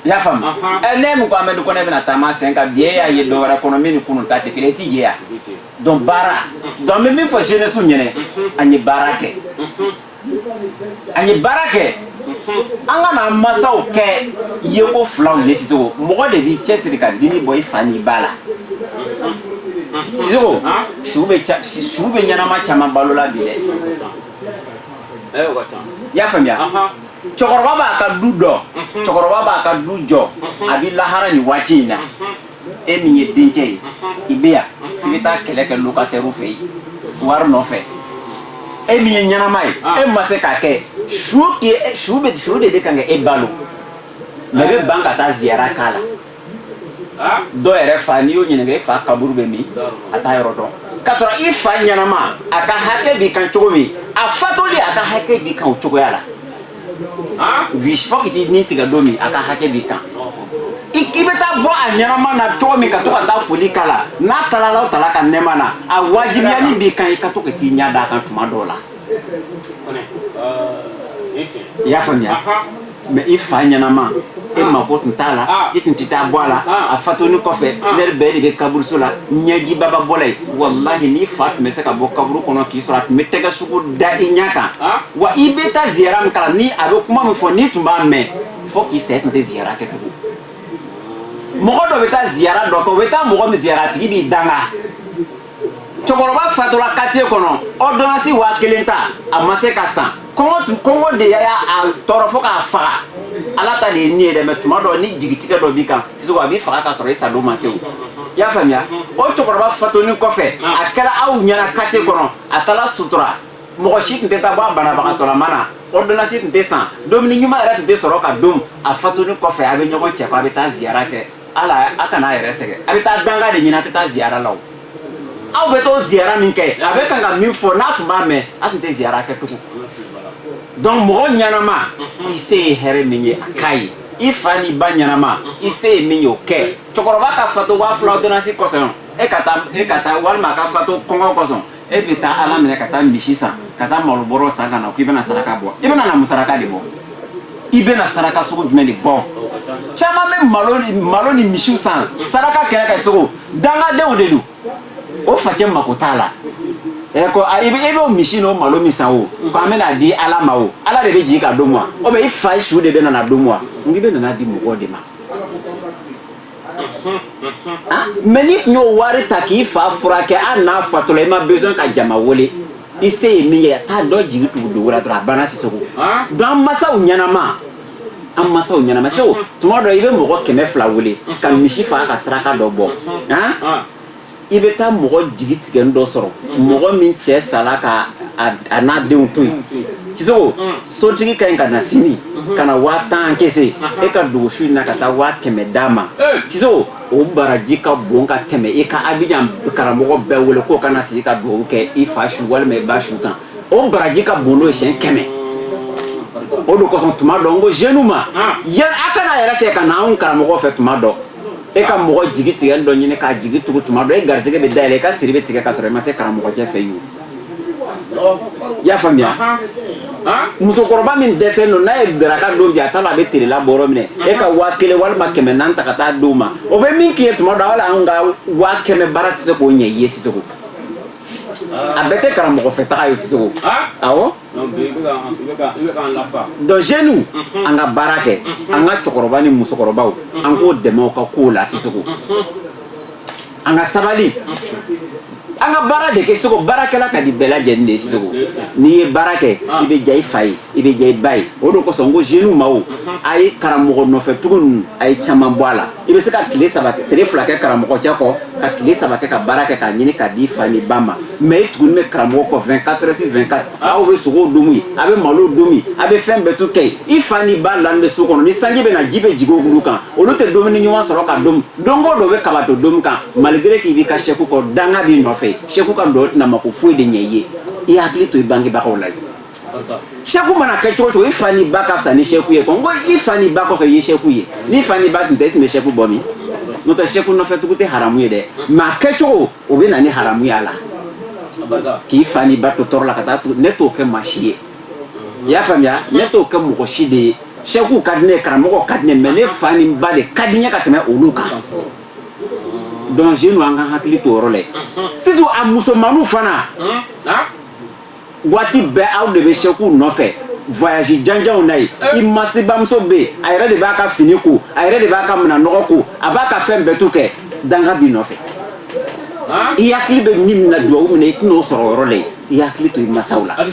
i y'a faamu ɛ ninnu ko amadu kɔnɛ bɛna taama sen kan bi e y'a ye dɔ wɛrɛ kɔnɔ min ni kunu ta tɛ kelen i t'i ye ya donc baara donc n bɛ min fɔ jeunesse ɲɛnɛ an ye baara kɛ an ye baara kɛ an kana masaw kɛ yeko filaw ye sisoko mɔgɔ de b'i cɛsiri ka dimi bɔ i fa n'i ba la sisoko su bɛ su bɛ ɲɛnama caman balo la bi dɛ y'a faamuya cɛkɔrɔba b'a ka du dɔ cɛkɔrɔba b'a ka du jɔ a bɛ lahara nin waati in na e min ye dencɛ ye i bɛ yan f'i bɛ taa kɛlɛ kɛ locataire fɛ yen wari nɔfɛ e min ye ɲɛnama ye e ma se k'a kɛ su su bɛ su de bɛ kan ka e balo mɛ i bɛ ban ka taa ziyara k'a la dɔ yɛrɛ fa n'i y'o ɲininka i fa kaburu bɛ min a t'a yɔrɔ dɔn k'a sɔrɔ i fa ɲɛnama a ka hakɛ b'i kan cogo min a fatoli a ka hakɛ b'i kan o cogoya la wi fo ka t'i ni tigɛ don min a ka hakɛ b'i kan i k'i bɛ taa bɔ a ɲɛnama na cogo min ka to ka taa foli k'a la n'a taala alahu taala ka nɛɛma na a wajibiyani b'i kan i ka to ka t'i ɲɛ d'a kan tuma dɔw la i y'a faamuya mɛ i fa ɲɛnama e mako tun t'a la i tun tɛ taa bɔ a la a fatoni kɔfɛ lɛri bɛɛ de bɛ kaburuso la ɲɛjiba bɛ bɔ la yen walahi n'i fa tun bɛ se ka bɔ kaburu kɔnɔ k'i sɔrɔ a tun bɛ tɛgɛ sugu da i ɲɛ kan wa i bɛ taa ziyara min k'a la ni a bɛ kuma min fɔ n'i tun b'a mɛn fo k'i sa i tun tɛ ziyara kɛ tugun mɔgɔ dɔ bɛ taa ziyara dɔ kɛ o bɛ taa mɔgɔ min ziyara a tigi b'i danga cɛkɔrɔba fatura katiye kɔnɔ ɔdɔnasi waa kelen ta a ma se ka san kɔngɔ kɔngɔ de y'a a tɔɔrɔ fo k'a faga ala ta de ye ni ye dɛ mɛ tuma dɔ ni jigitigɛ dɔ b'i kan sisoko a b'i faga ka sɔrɔ i sadon ma se o i y'a faamuya o cɛkɔrɔba fatoni kɔfɛ a kɛra aw ɲɛna katiye kɔnɔ a taara sutura mɔgɔ si tun tɛ taa bɔ a banabagatɔlama na ɔdɔnasi tun tɛ san dumuni ɲuman yɛrɛ tun tɛ sɔrɔ ka dun a fatoni kɔfɛ a bɛ ɲɔgɔn cɛ ko a bɛ taa ziyara kɛ ala a kana a yɛrɛ sɛgɛn a bɛ taa danga de ɲini a tɛ taa ziyara la o aw bɛ t'o ziyara min kɛ a bɛ kan ka min fɔ n'a tun b'a mɛn a tun tɛ ziyara kɛ tugun donc mɔgɔ ɲɛnama i se ye hɛrɛ min ye a k'a ye i fa n'i ba ɲɛnama i se ye min ye o kɛ cɛkɔrɔba ka fatu waa fila ordonnance kosɔn e ka taa e ka taa walima a ka fatu kɔngɔ kosɔn e bɛ taa ala minɛ ka taa misi san ka taa malobɔrɔ san ka na k'i bɛna saraka bɔ i bɛna na mun saraka de bɔ i bɛna saraka sugu jumɛn de bɔ caman bɛ malo malo ni misiw san saraka kɛ sisoko dangadenw de don o fakɛ mako t'a la ɛ ko a i bɛ i b'o misi n'o malo min san o ko an bɛna a di ala ma o ala de bɛ jigin k'a dun wa o bɛ i fa su de bɛna n'a dun wa nka i bɛna n'a di mɔgɔw de ma Ah, mais n'i tun y'o wari ta k'i fa furakɛ an n'a fatula i ma besoin ka jama wele i se ye min ye ka dɔ jigi tugu dugu dɔrɔn a banna Sisoko ah. donc an masaw ɲɛnama an masaw ɲɛnama Sisoko tuma dɔ i bɛ mɔgɔ kɛmɛ fila wele ka misi faa ka saraka dɔ bɔ ah. i bɛ taa mɔgɔ jigitigɛlen dɔ sɔrɔ mɔgɔ min cɛ sara ka a n'a denw to yen sisoko sotigi ka ɲi ka na sini ka na waa tan kɛ e ka dogo su in na ka taa waa kɛmɛ d'a ma sisoko o baraji ka bon ka tɛmɛ e ka a bɛ karamɔgɔ bɛɛ wele k'u ka na sigi ka dugawu kɛ i fa su walima i ba su kan o baraji ka bon n'o ye siɲɛ kɛmɛ o de kosɔn tuma dɔ n ko jeunes ma a kana a yɛrɛ sɛgɛn ka na anw karamɔgɔ fɛ tuma dɔ e ka mɔgɔ jigitigɛlen dɔ ɲini k'a jigi tugu tuma dɔ e garisɛgɛ bɛ dayɛlɛ i ka siri bɛ tigɛ ka sɔrɔ i ma se karamɔgɔcɛ fɛ yen i y'a faamuya musokɔrɔba min dɛsɛlen don n'a ye daraka dun bi a t'a dɔn a bɛ tilela bɔ yɔrɔ min e ka waa kelen walima kɛmɛ naani ta ka taa d'o ma o bɛ min k'i ye tuma dɔ ala an ka waa kɛmɛ baara tɛ se k'o ɲɛ i ye sisoko a bɛɛ tɛ karamɔgɔfɛ taga ye sisoko Donc bi i bɛ ka i bɛ ka i bɛ k'an lafa. Donc jeunes unhun, an ka baara kɛ, unhun, an ka cɛkɔrɔba ni musokɔrɔbaw, unhun, an k'u dɛmɛ u ka kow la Sisoko, unhun, an ka sabali, unhun, an ka baara de kɛ Sisoko, baarakɛla ka di bɛɛ lajɛlen de ye Sisoko, n'i ye baara kɛ ah. i bɛ diya i fa ye, i bɛ diya i ba ye, o de kosɔn n ko jeunes ma, unhun, a ye karamɔgɔ nɔfɛtugu ninnu a ye caman bɔ a la. I bɛ se ka tile saba tile fila kɛ karamɔgɔcɛ kɔ ka tile saba kɛ ka baara kɛ k'a ɲini k'a di i fa n'i ba ma mais i tugulen bɛ karamɔgɔ kɔ vingt-quatre sur vingt-quatre aw bɛ sogo dun yen a bɛ malo dun a bɛ fɛn bɛɛ to kɛ i fa n'i ba dalen bɛ so kɔnɔ ni sanji bɛ na ji bɛ jigin olu kan olu tɛ dumuni ɲuman sɔrɔ ka dun donc dɔ bɛ kabato dun kan malgré k'i bɛ ka Seku kɔ danga b'i nɔfɛ Seku ka dɔ tɛna mako foyi de ɲɛ i ye i hakili to i bangebagaw la sɛku mana kɛ cogo cogo i fa ni ba ka fisa ni sɛku ye kɔn ko i fa ni ba kɔfɛ i ye sɛku ye ni fa ni ba tun tɛ i tun bɛ sɛku bɔ min n'o tɛ sɛku nɔfɛ tugu tɛ haramu ye dɛ mais a kɛcogo o bɛ na ni haramu ye a la k'i fa ni ba to tɔɔrɔ la ka taa ne t'o kɛ maa si ye i y'a faamuya ne t'o kɛ mɔgɔ si de ye sɛku ka di ne ye karamɔgɔ ka di ne mais ne fa ni ba de ka di n ye ka tɛmɛ olu kan donc jeunes an ka hakili to o yɔrɔ la surtout a musomaninw fana waati bɛɛ aw de bɛ sɛku nɔfɛ voyage janjanw na yen i masa bamuso bɛ a yɛrɛ de b'a ka fini ko a yɛrɛ de b'a ka minɛn nɔgɔ ko a b'a ka fɛn bɛɛ tout kɛ danga b'i nɔfɛ i hakili bɛ min na dugawu min na i tɛna o sɔrɔ yɔrɔ la i hakili to i masaw la a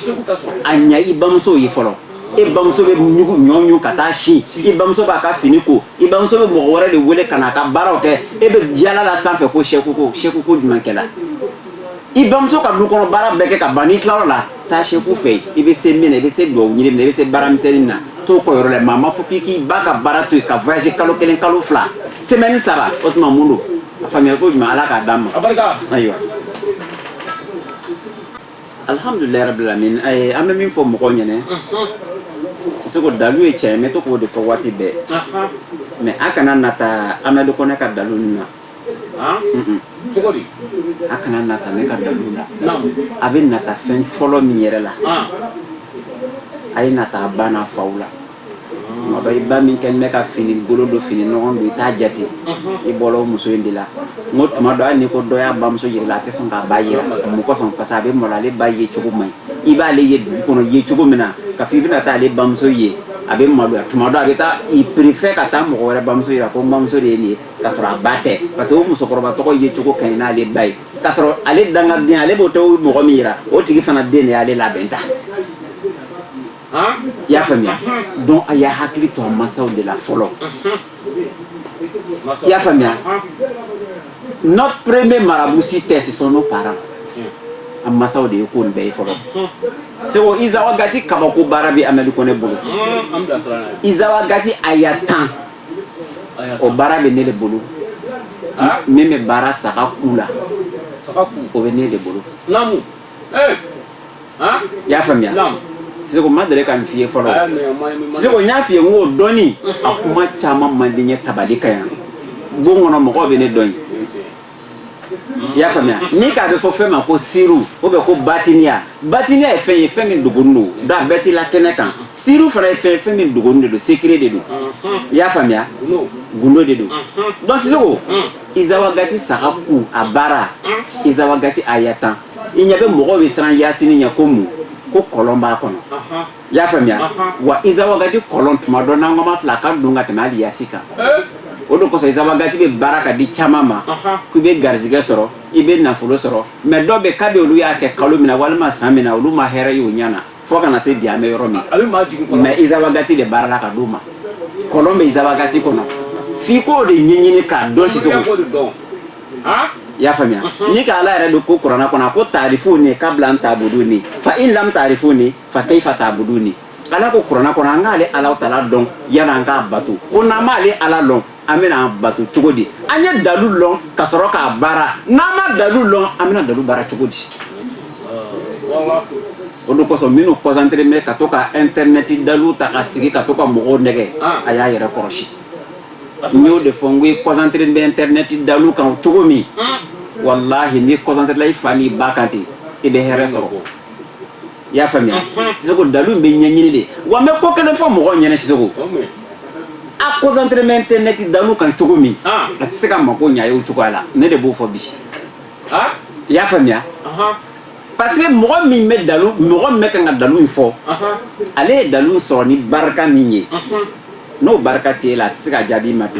ɲɛ i bamuso ye fɔlɔ e bamuso bɛ ɲun ɲɔ ɲun ka taa si i bamuso b'a ka fini ko i bamuso bɛ mɔgɔ wɛrɛ de wele ka na a ka baaraw kɛ e bɛ diɲɛ yaala sanfɛ ko sɛku ko sɛku koɲumankɛla i bamuso ka du kɔnɔ baara bɛɛ kɛ ka ban n'i tilara o la taa sɛku fɛ yen i bɛ se min na i bɛ se duwawu ɲini min na i bɛ se baara misɛnnin min na t'o kɛ o yɔrɔ la maa ma fɔ k'i k'i ba ka baara to yen ka voyage kalo kelen kalo fila semaine saba o tuma mun don a faamuyali koɲuman ala k'a d'an ma ayiwa alhamdulilayi rabil alamin an bɛ min fɔ mɔgɔw ɲɛna tɛ se ko dalu ye tiɲɛ ye n bɛ to k'o de fɔ waati bɛɛ mais a kana nata amadu kɔnɛ ka dalu nin na cogo di a kana nata ne ka dalu la a bɛ nata fɛn fɔlɔ min yɛrɛ la a ye nata a ba n'a faw la tuma dɔ i ba min kɛ bɛ ka fini kolon don fini nɔgɔ don i t'a jate i bɔra o muso in de la n ko tuma dɔ hali n'i ko dɔ y'a bamuso yira i la a tɛ sɔn k'a ba yira mun kosɔn parce que a bɛ malo ale ba yecogo man ɲi i b'ale ye dugu kɔnɔ ye cogo min na ka fɔ i bɛna taa ale bamuso ye a bɛ maloya tuma dɔ a bɛ taa il préfère ka taa mɔgɔ wɛrɛ bamuso yira ko n bamuso de ye nin ye ka sɔrɔ a ba tɛ parce que o musokɔrɔba tɔgɔ yecogo ka ɲi n'ale ba ye ka sɔrɔ ale dangaden ale b'o tɛ mɔgɔ min yira o tigi fana den de y'ale labɛn tan i y'a faamuya donc a y'a hakili to a masaw de la fɔlɔ i y'a faamuya nos premiers marabouts c'était ce sont nos parents a masaw de ye ko nin bɛɛ ye fɔlɔ seko iza wagati kabako baara bɛ amadu kɔnɛ bolo iza wagati a y'a tan o baara bɛ ne de bolo min bɛ baara saga ku la o bɛ ne de bolo i y'a faamuya seko ma deli ka nin f'i ye fɔlɔ seko n y'a f'i ye n ko dɔɔni a kuma caman man di n ye tabali kan yan bon kɔnɔ mɔgɔw bɛ ne dɔn yen i y'a faamuya ni k'a bɛ fɔ fɛn ma ko siru o bɛ ko batiniya batiniya ye fɛn ye fɛn min dogonin don nka bɛɛ t'i la kɛnɛ kan siru fana ye fɛn ye fɛn min dogonin de don secret de don i y'a faamuya gundo de don donc sisoko izawagati saga ku a baara izawagati aya tan i ɲɛ bɛ mɔgɔw bɛ siran yasini ɲɛ ko mun ko kɔlɔn b'a kɔnɔ i y'a faamuya wa izawagati kɔlɔn tuma dɔ n'an k'a mafilɛ a ka dun ka tɛmɛ hali yasi kan eh? o de kosɔn izawagati bɛ baara ka di caman ma k'i bɛ garizigɛ sɔrɔ i bɛ nafolo sɔrɔ mais dɔ bɛ kabi olu y'a kɛ kalo min na walima san min na olu ma hɛrɛ y'u ɲɛ na fo ka na se bi an bɛ yɔrɔ min mais izawagati de baarala ka d'u ma kɔlɔn bɛ izawagati kɔnɔ f'i k'o de ɲɛɲini k'a dɔn sisan i y'a faamuya ni k'ala yɛrɛ dun ko kuranɛ kɔnɔ a ko taarifuni kabila an taabuduni fa in lam taarifuni fa kayifa taabuduni ala ko kuranɛ kɔnɔ an k'ale ala taala dɔn yani an k'a bato ko n'an m'ale ala dɔn an bɛna a bato cogo di an ye dalu dɔn ka sɔrɔ k'a baara n'an ma dalu dɔn an bɛna dalu baara cogo di o de kosɔn minnu concentré bɛ ka to ka internet dalu ta ka sigi ka to ka mɔgɔw nɛgɛn ah. a y'a yɛrɛ kɔlɔsi n y'o de fɔ n ko i concentré bɛ internet dalu kan cogo min ah. walahi n'i concentréla i fa ni ba kan ten i bɛ hɛrɛ sɔrɔ i y'a faamuya sisoko dalu bɛ ɲɛɲini de wa n bɛ ko kelen fɔ mɔgɔw ɲɛna sisoko a concentré bɛ internet dalu kan cogo min a tɛ se ka mako ɲa ye o cogoya la ne de b'o fɔ bi i y'a faamuya parce que mɔgɔ min bɛ dalu mɔgɔ min bɛ kan ka dalu in fɔ ale ye dalu sɔrɔ ni barika min ye n'o barika tɛ e la a tɛ se ka jaabi ma bi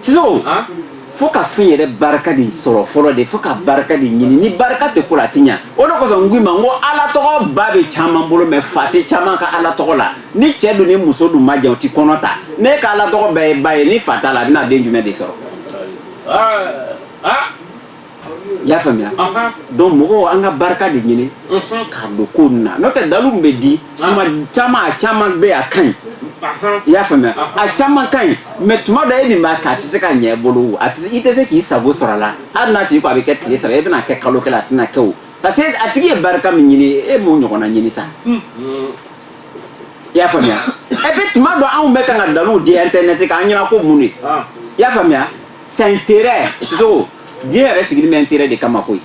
sisan fo ka fɛn yɛrɛ barika de sɔrɔ fɔlɔ de fo ka barika de ɲini ni barika tɛ ko la a ti ɲa o de kosɔn n ko i ma n ko ala tɔgɔ ba bɛ caman bolo mais fa tɛ caman ka ala tɔgɔ la ni cɛ dun ni muso dun ma jɛ o ti kɔnɔ ta n'i ka ala tɔgɔ bɛɛ ye ba ye ni fa t'a la a bɛna den jumɛn de sɔrɔ y'a faamuya donc mɔgɔw an ka barika de ɲini ka don ko ninnu na n'o tɛ dalu min bɛ di tuma caman a caman bɛ a ka ɲi i y'a faamuya a caman ka ɲi mais tuma dɔ e min b'a kɛ a tɛ se ka ɲɛ i bolo a tɛ i tɛ se k'i sago sɔrɔ a la hali n'a tigi ko a bɛ kɛ tile saba e bɛna kɛ kalo kelen a tɛna kɛ o parce que a tigi ye barika min ɲini e m'o ɲɔgɔnna ɲini sa i y'a faamuya et puis tuma dɔ anw bɛ kan ka daluw di internet kan an ɲɛna ko mun de i y'a faamuya c'est intérêt sisoko diɲɛ yɛrɛ sigilen bɛ intérêt de kama koyi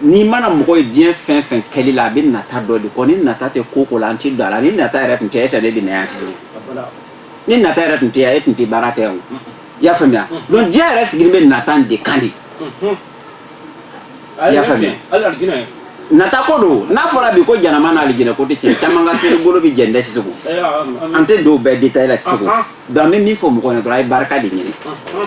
n'i mana mɔgɔ ye diɲɛ fɛn fɛn kɛli la a bɛ nata dɔ de kɔ ni nata tɛ ko o ko la an tɛ don a la ni nata yɛrɛ tun tɛ est ce que ne bɛ na yan sisan ni nata yɛrɛ tun tɛ yan e tun tɛ baara kɛ yan o i y'a faamuya donc diɲɛ yɛrɛ sigilen bɛ nata de kan de i y'a faamuya nata ko don n'a fɔra bi ko janama n'alijinɛ ko tɛ tiɲɛ caman ka seli bolo bɛ jɛn dɛ sisan an tɛ don bɛɛ détail la sisan An bɛ min fɔ mɔgɔ ye dɔrɔn a ye barika de ɲini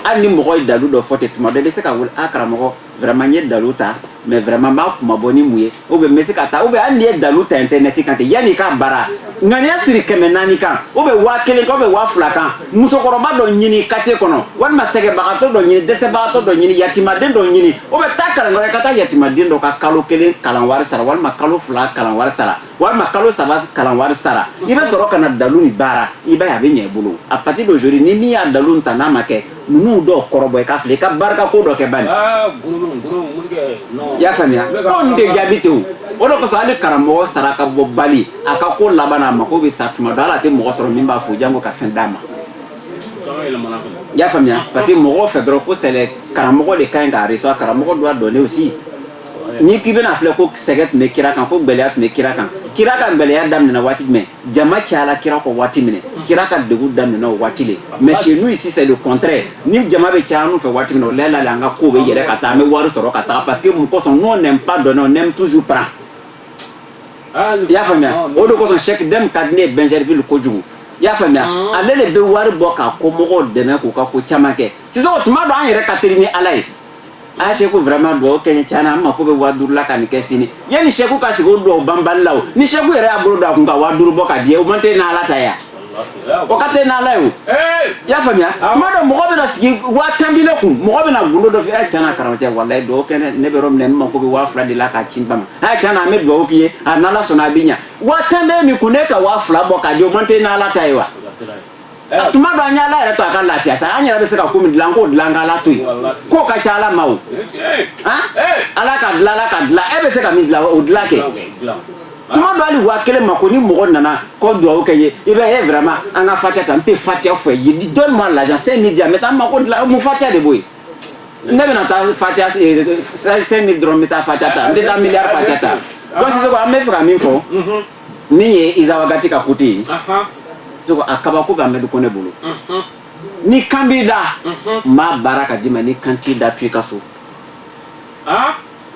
an ni mɔgɔ ye dalu dɔ fɔ tɛ tuma bɛɛ bɛ se ka wuli a karamɔgɔ vraiment ne ye dalu ta mais vraiment a kun ma bɔ ni mun ye o bɛ bɛ se ka taa u bɛ an nin ye dalu ta internet kan tɛ yanni ka baara ŋaniya siri kɛmɛ naani kan ou bien waa kelen ou bien waa fila kan musokɔrɔba dɔ ɲini quartier kɔnɔ walima sɛgɛnbagatɔ dɔ ɲini dɛsɛbagatɔ dɔ ɲini yatiimaden dɔ ɲini ou bien taa kalanyɔrɔ ka taa yatiimaden dɔ ka kalo kelen kalan wari sara walima kalo fila kalan wari sara walima kalo saba kalan wari sara i bɛ sɔrɔ ka na dalu nin baara i b'a ye a bɛ ɲɛ i bolo à partir d'aujourd'hui ni min y'a dalu ta n'a ma kɛ ninnu dɔ kɔrɔbɔ i ka fili i ka barika ko dɔ kɛ bani i y'a faamuya ko nin tɛ jaabi ten o de kosɔn hali karamɔgɔ sarakabɔbali a ka ko laban a mako bɛ sa tuma dɔ ala tɛ mɔgɔ sɔrɔ min b'a fɔ janko ka fɛn d'a ma i y'a faamuya parce que mɔgɔ fɛ dɔrɔn ko c'est le karamɔgɔ de ka ɲi ka recevoir karamɔgɔ doit donner aussi n'i k'i bɛna filɛ ko sɛgɛn tun bɛ kira kan ko gɛlɛya tun bɛ kira kan kira ka gɛlɛya daminɛna waati jumɛn jama cayala kira kɔ waati min kira ka degun daminɛna o waati le mais chez nous ici c'est le contraire ni jama bɛ caya annu fɛ waati min o lala an ka ko bɛ yɛlɛ ka taa an bɛ wari sɔrɔ ka taa parce que mun kosɔn n'o nɛ ba dɔn o nɛ tusu pa ah, i y'a faamuya ah, o de kosɔn Cheikh Dɛmɛ ka di ne ye Bingerville kojugu i y'a faamuya ah. ale de bɛ wari bɔ k'a kɔmɔgɔw dɛmɛ k'u ka ko caman kɛ sisan o tuma don an yɛrɛ ka teli ni ala ye a seko vraiment dugawu kɛ n ye sa ne mako bɛ waa duuru la ka nin kɛ sini yanni seko ka sigi o dugawu banbali la ni seko yɛrɛ y'a bolo don a kun ka waa duuru bɔ ka di o man teli n' ala ta ye wa o ka teli n'ala ye i y'a faamuya tuma dɔ mɔgɔ bɛna sigi waa tan b'i kun mɔgɔ bɛna gdo dɔ fɛ a ca karamɔgɔcɛ wala dugawu kɛ ne ye mais ne mako bɛ waa fila de la ka ci ba a ca an bɛ dugawu k'i ye a sɔnna a bɛ ɲɛ waa tan bɛ n kun ne ka waa fila bɔ ka di o man teli n' ala ta ye wa eh. tuma dɔ an y'ala yɛrɛ to a ka lafiya sa an yɛrɛ bɛ se ka ko min dilan k'o dilan k'ala to yen k'o ka ca ala ma o eh, eh. ala ka dilan ala ka dilan e bɛ se ka min dilan o dilan kɛ tuma dɔ hali waa kelen mako ni mɔgɔ nana ko dugawu kɛ n ye i bɛ e vraiment an ka fatiya ta n tɛ fatiya fɔ ye donne moi l'argent cinq mille di an ma t'an mako dilan mun fatiya de b'o ye ne bɛna taa fatiya cinq mille dɔrɔn n bɛ taa fatiya ta n tɛ taa miliyari fatiya ta donc sisan an bɛ fɛ ka min fɔ nin ye izawagati ka côté ye seko a kabako bɛ amadu kone bolo ni kan b'i da n b'a baara ka d'i ma ni kan t'i da to i ka so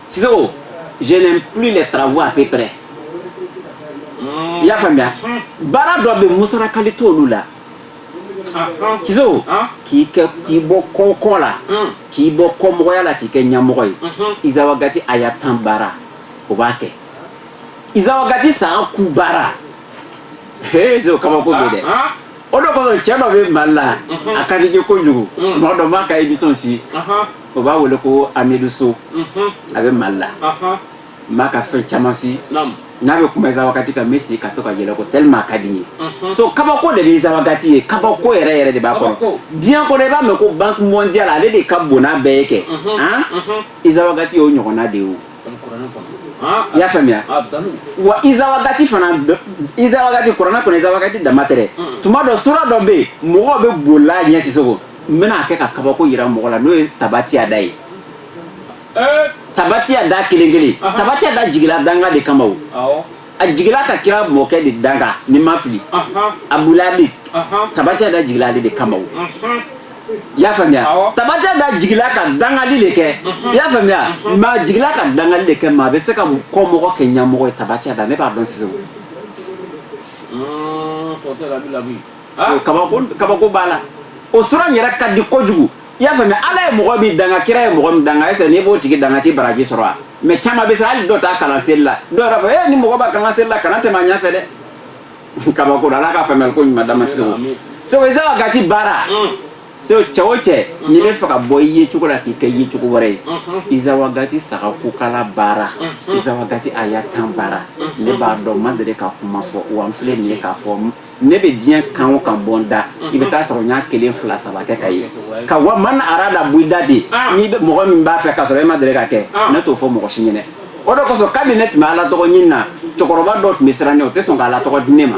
siseko je n'aime plus les travaux à peu près i y'a faamuya baara dɔ bɛ musarakali t'olu la siseko k'i kɛ k'i bɔ kɔ kɔ la k'i bɔ kɔmɔgɔya la k'i kɛ ɲɛmɔgɔ ye izawagati aya tan baara o b'a kɛ iza wakati saga ku baara e so kabako bɛ dɛ ah, ah. o de kosɔn cɛ dɔ bɛ mali la mhm. a ka di n ye kojugu mm. tuma dɔ m'a ka emission si o b'a wele ko amidu so mhm. a bɛ mali la m'a ka fɛn caman si n'a bɛ kuma iza wakati kan n bɛ sigi ka to ka yɛlɛ ko tellement a ka di n ye mhm. so kabako de bɛ iza wakati ye kabako yɛrɛ yɛrɛ de b'a kɔnɔ diɲɛ kɔnɔ i b'a mɛn ko banque mondiale ale de ka bon n'a bɛɛ ye kɛ iza wakati y'o ɲɔgɔnna de ye o i y'a faamuya wa iza wagati fana iza wagati kuranɛ kɔnɔ iza wagati dama tɛ mm. tuma dɔ sura dɔ bɛ yen mɔgɔw bɛ bolila a ɲɛ Sisoko n bɛna a kɛ ka kabako yira mɔgɔ la n'o ye tabatiya da ye eh? tabatiya da kelen kelen tabatiya da jigila danga de kama o a jigila ka kira mɔkɛ de danga ni n ma fili abulabi tabatiya da jigila ale de kama i y'a faamuya tabatiya da jigila ka dangali de kɛ i y'a faamuya mais a jigila ka dangali de kɛ mais a bɛ se ka kɔmɔgɔ kɛ ɲamɔgɔ ye tabatiya da ne b'a dɔn sisan kabako b'a la o sɔrɔ yɛrɛ ka di kojugu i y'a faamuya ala ye mɔgɔ min danga kira ye mɔgɔ min danga est ce que n'i b'o tigi danga i tɛ baraji sɔrɔ wa mais caman bɛ se hali dɔ t'a kalan seli la dɔw yɛrɛ fɔ ee eh, ni mɔgɔ b'a kalan seli la kana tɛmɛ a ɲɛ fɛ dɛ kabako don ala ka faamuyali ko ɲuman d'an ma segu segu izawagati baara mm. segu cɛ o cɛ mm-hmm. n'i b'a fɛ ka bɔ i yecogo la k'i kɛ yecogo wɛrɛ ye mm-hmm. izawagati saga kukala baara mm-hmm. izawagati aya tan baara ne b'a dɔn n ma deli ka kuma fɔ wa n filɛ nin ye k'a fɔ ne bɛ diɲɛ kan o kan bɔ n da i bɛ taa sɔrɔ n y'a kelen fila saba kɛ k'a ye ka wa man ara la b'i da de n'i bɛ mɔgɔ min b'a fɛ k'a sɔrɔ i ma deli k'a kɛ ne t'o fɔ mɔgɔ si ɲɛna o de kosɔn kabi ne tun bɛ ala tɔgɔ ɲini na cɛkɔrɔba dɔ tun bɛ siran o tɛ sɔn ka ala tɔgɔ di ne ma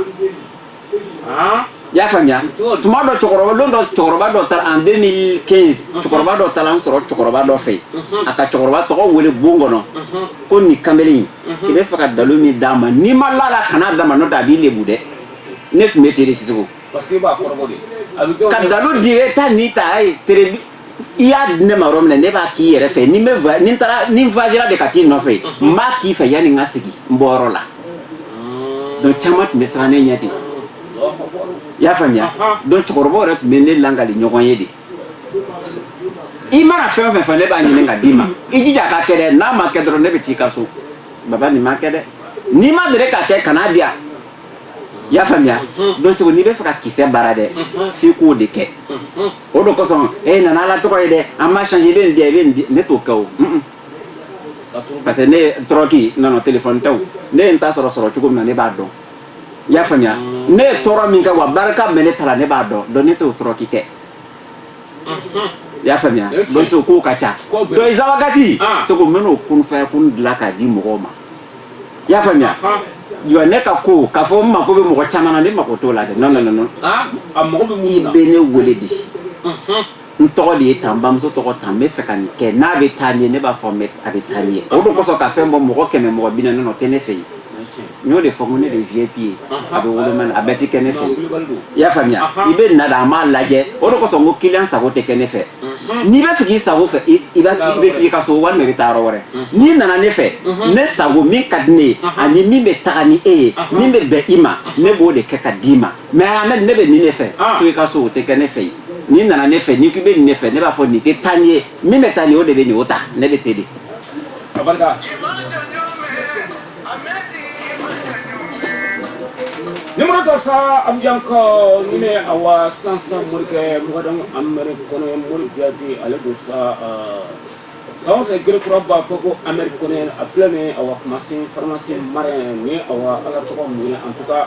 i y'a faamuya tuma dɔ lon dɔ cɛkɔrɔba dɔ taara en deux mille quinze cɛkɔrɔba dɔ taara n sɔrɔ cɛkɔrɔba dɔ fɛ a ka cɛkɔrɔba tɔgɔ wele bon kɔnɔ ko nin kamalen in mhm. i b'a fɛ ka dalu min d'a ma n'i ma la a la kan'a d'a ma n'o tɛ a b'i lebu dɛ ne tun bɛ ten de Sisoko ka dalu di e ta ni ta a ye tere i y'a di ne ma yɔrɔ min na ne b'a k'i yɛrɛ fɛ ni n bɛ ni n taara ni n voyagera de ka t'i nɔfɛ mhm. n b'a k'i fɛ yanni n ka segin n bɔyɔrɔ la mhm. donc caman tun bɛ siran ne ɲɛ de i y'a faamuya donc cɛkɔrɔbaw yɛrɛ tun bɛ ne lakali ɲɔgɔn ye de i mana fɛn o fɛn fɔ ne b'a ɲini k'a di n ma i jija a ka kɛ dɛ n'a ma kɛ dɔrɔn ne bɛ t'i ka so baba nin ma kɛ dɛ n'i ma deli k'a kɛ kan'a di yan i y'a faamuya donc segu n'i b'a fɛ ka kisɛ baara dɛ f'i k'o de kɛ o de kosɔn e nana ala tɔgɔ ye dɛ an ma change i bɛ nin di yan i bɛ nin di ne t'o kɛ o mm, mm. parce que ne ye tɔrɔki nana telefɔni tɛ o ne ye n ta sɔrɔ sɔrɔ cogo min na ne b'a dɔn i y'a faamuya ne ye tɔɔrɔ min kɛ wa barika min bɛ ne ta la ne b'a dɔn donc ne t'o tɔɔrɔ k'i kɛ i y'a faamuya donc so kow ka ca Kow bɛ- donc izawagati Ah. seko n bɛn'o kunfaya kun dilan k'a di mɔgɔw ma i y'a faamuya Ah. jɔ ne ka ko k'a fɔ n mako bɛ mɔgɔ caman na ne mako t'o la dɛ non non non non Ah, a mago bɛ mun i na bɛ ne wele di n tɔgɔ de ye tan n bamuso tɔgɔ tan n b'a fɛ ka nin kɛ n'a bɛ taa n'i ye ne b'a fɔ n a bɛ taa n'i ye o de kosɔn ka fɛn bɔ mɔgɔ kɛmɛ mɔgɔ bi naani o tɛ ne fɛ yen n y'o de fɔ ko ne de ye vip ye a bɛ woloma na a bɛɛ tɛ kɛ ne fɛ i y'a faamuya i bɛ na da an b'a lajɛ o de kosɔn ko kiliyan sago tɛ kɛ ne fɛ n'i b'a fɛ k'i sago kɛ i b'a k'i ka so walima i bɛ taa yɔrɔ wɛrɛ n'i nana ne fɛ ne sago min ka di ne ye ani min bɛ taga ni e ye min bɛ bɛn i ma ne b'o de kɛ ka d'i ma mais ne bɛ nin ne fɛ to i ka so o tɛ kɛ ne fɛ yen n'i nana ne fɛ n'i k'i bɛ nin ne fɛ ne b'a fɔ nin tɛ taa n'i ye min bɛ taa nin o de bɛ nin o ta ne bɛ te de nimorota sa an bɛ kɔ ni ne awa sansan morikɛ mɔgɔ don Ameriki kɔnɔ morifiyadi ale don sa san fɛ gkura b'a fɔ ko Ameriki kɔnɔ a filɛ nin awa kumasen farimasi mara ni awa ala tɔgɔ mun en tout cas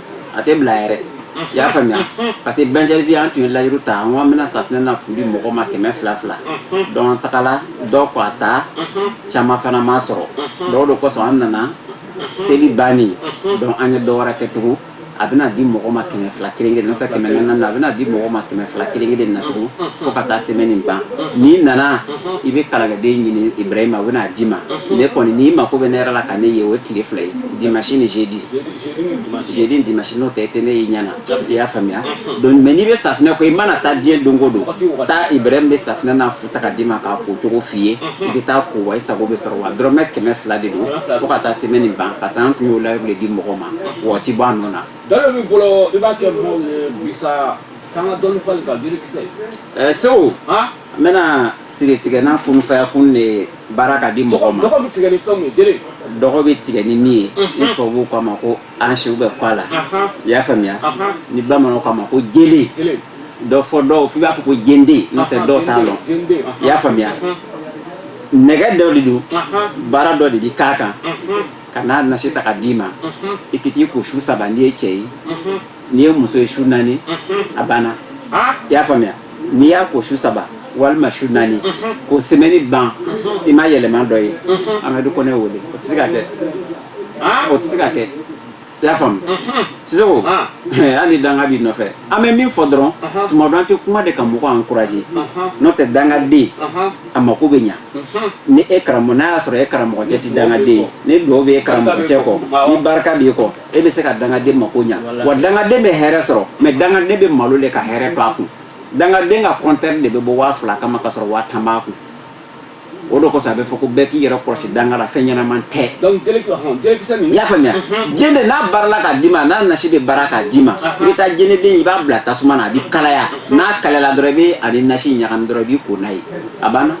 a tɛ bila yɛrɛ i y'a faamuya parce que bɛnri an tun ye layidu ta an bɛna safunɛ na fu di mɔgɔ ma kɛmɛ fila fila an tagala dɔ ko a taa caman fana ma sɔrɔ donc o de kosɔn an nana seli bannen dɔn an ye dɔ wɛrɛ kɛ tugun a bɛna di mɔgɔ ma kɛmɛ fila kelen kelen ka kɛmɛ na a bɛna di mɔgɔ ma kɛmɛ fila kelen kelen natugu fo ka taa sɛmɛni ban n'i nana i bɛ kalankɛden ɲini Ibrahima a bɛn'a d'i ma ne kɔni n'i mako bɛ ne yɛrɛ la ka ne ye o tile fila ye dimasi ni jeudi jeudi ni dimasi n'o tɛ i tɛ ne y'i ɲɛ na i y'a faamuya mais n'i bɛ safunɛ kɔ i mana taa diɲɛ don o don taa Ibrahima bɛ safunɛ na fu ta k'a d'i ma k'a ko cogo f'i ye i bɛ taa ko wa i sago bɛ sɔrɔ wa dɔrɔmɛ kɛmɛ fila de don fo ka taa sɛmɛni ban parce que an tun y'o layidu de di mɔgɔ ma waati b'a nɔ na bolo i b'a kɛ segu n bɛna siri tigɛ n'a kunsaya kun de ye baara ka di mɔgɔ ma dɔgɔ bɛ tigɛ ni fɛn min ye jele dɔgɔ bɛ tigɛ ni min ye ni tubabuw k'a ma ko ansi bɛ kɔ a la Ahan. i y'a faamuya Ahan. ni bamananw k'a ma ko jele jele dɔ fɔ dɔw f'i b'a fɔ ko jende n'o tɛ dɔw t'a lɔn jende i y'a faamuya nɛgɛ dɔ de don baara dɔ de bi k'a kan ka n'a nasi ta ka d'i ma i ka t'i ko su saba n'i ye cɛ ye n'i ye muso ye su naani a banna i y'a faamuya n'i y'a ko su saba walima su naani ko sɛmɛni ban i ma yɛlɛma dɔ ye amadu kɔnɛ wele o tɛ se ka kɛ o tɛ se ka kɛ i y'a faamu sisan ko an ni danga b'i nɔfɛ an bɛ min fɔ dɔrɔn tuma dɔ an tɛ kuma de ka mɔgɔ encourager n'o tɛ dangaden a mako bɛ ɲa ni e karamɔgɔ n'a y'a sɔrɔ e karamɔgɔcɛ tɛ dangaden ni duwawu bɛ e karamɔgɔcɛ kɔ ni barika b'i kɔ e bɛ se ka dangaden mako ɲɛ wa dangaden bɛ hɛrɛ sɔrɔ mɛ dangaden bɛ malo de ka hɛrɛ to a kun dangaden ka kɔnte de bɛ bɔ waa fila kama ka sɔrɔ waa tan b'a kun o de kosɔn a bɛ fɔ ko bɛɛ k'i yɛrɛ kɔlɔsi danga la fɛn ɲɛnaman tɛ i y'a faamuya ji de n'a baarala k'a d'i ma n'a nasi bɛ baara k'a d'i ma i bɛ taa ji de i b'a bila tasuma na a bɛ kalaya n'a kalala dɔrɔn i b'a ni nasi ɲagami dɔrɔn i b'i ko n'a ye a banna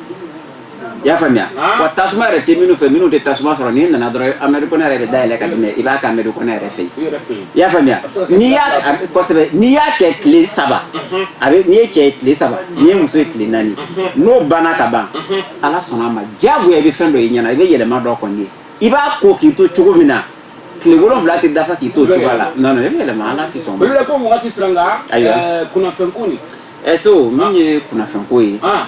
i y'a faamuya wa tasuma yɛrɛ tɛ minnu fɛ minnu tɛ tasuma sɔrɔ n'i nana dɔrɔn amadu kɔnɛ yɛrɛ bɛ da yɛlɛ ka tɛmɛ i b'a ko amadu kɔnɛ yɛrɛ fɛ i y'a faamuya n'i y'a kosɛbɛ n'i y'a kɛ tile saba a bɛ n'i ye cɛ ye tile saba n'i ye muso ye tile naani n'o banna ka ban ala sɔnna a ma diyagoya i bɛ fɛn dɔ y'i ɲɛ na i bɛ yɛlɛma dɔ kɔni ye i b'a ko k'i to cogo min na tile wolonwula tɛ dafa k'i to cogo la non non i bɛ yɛlɛma ala tɛ sɔn o de la ko mɔgɔ tɛ siran ka kunnafɛn ko nin ɛso eh, min ye kunnafɛnko ye ah.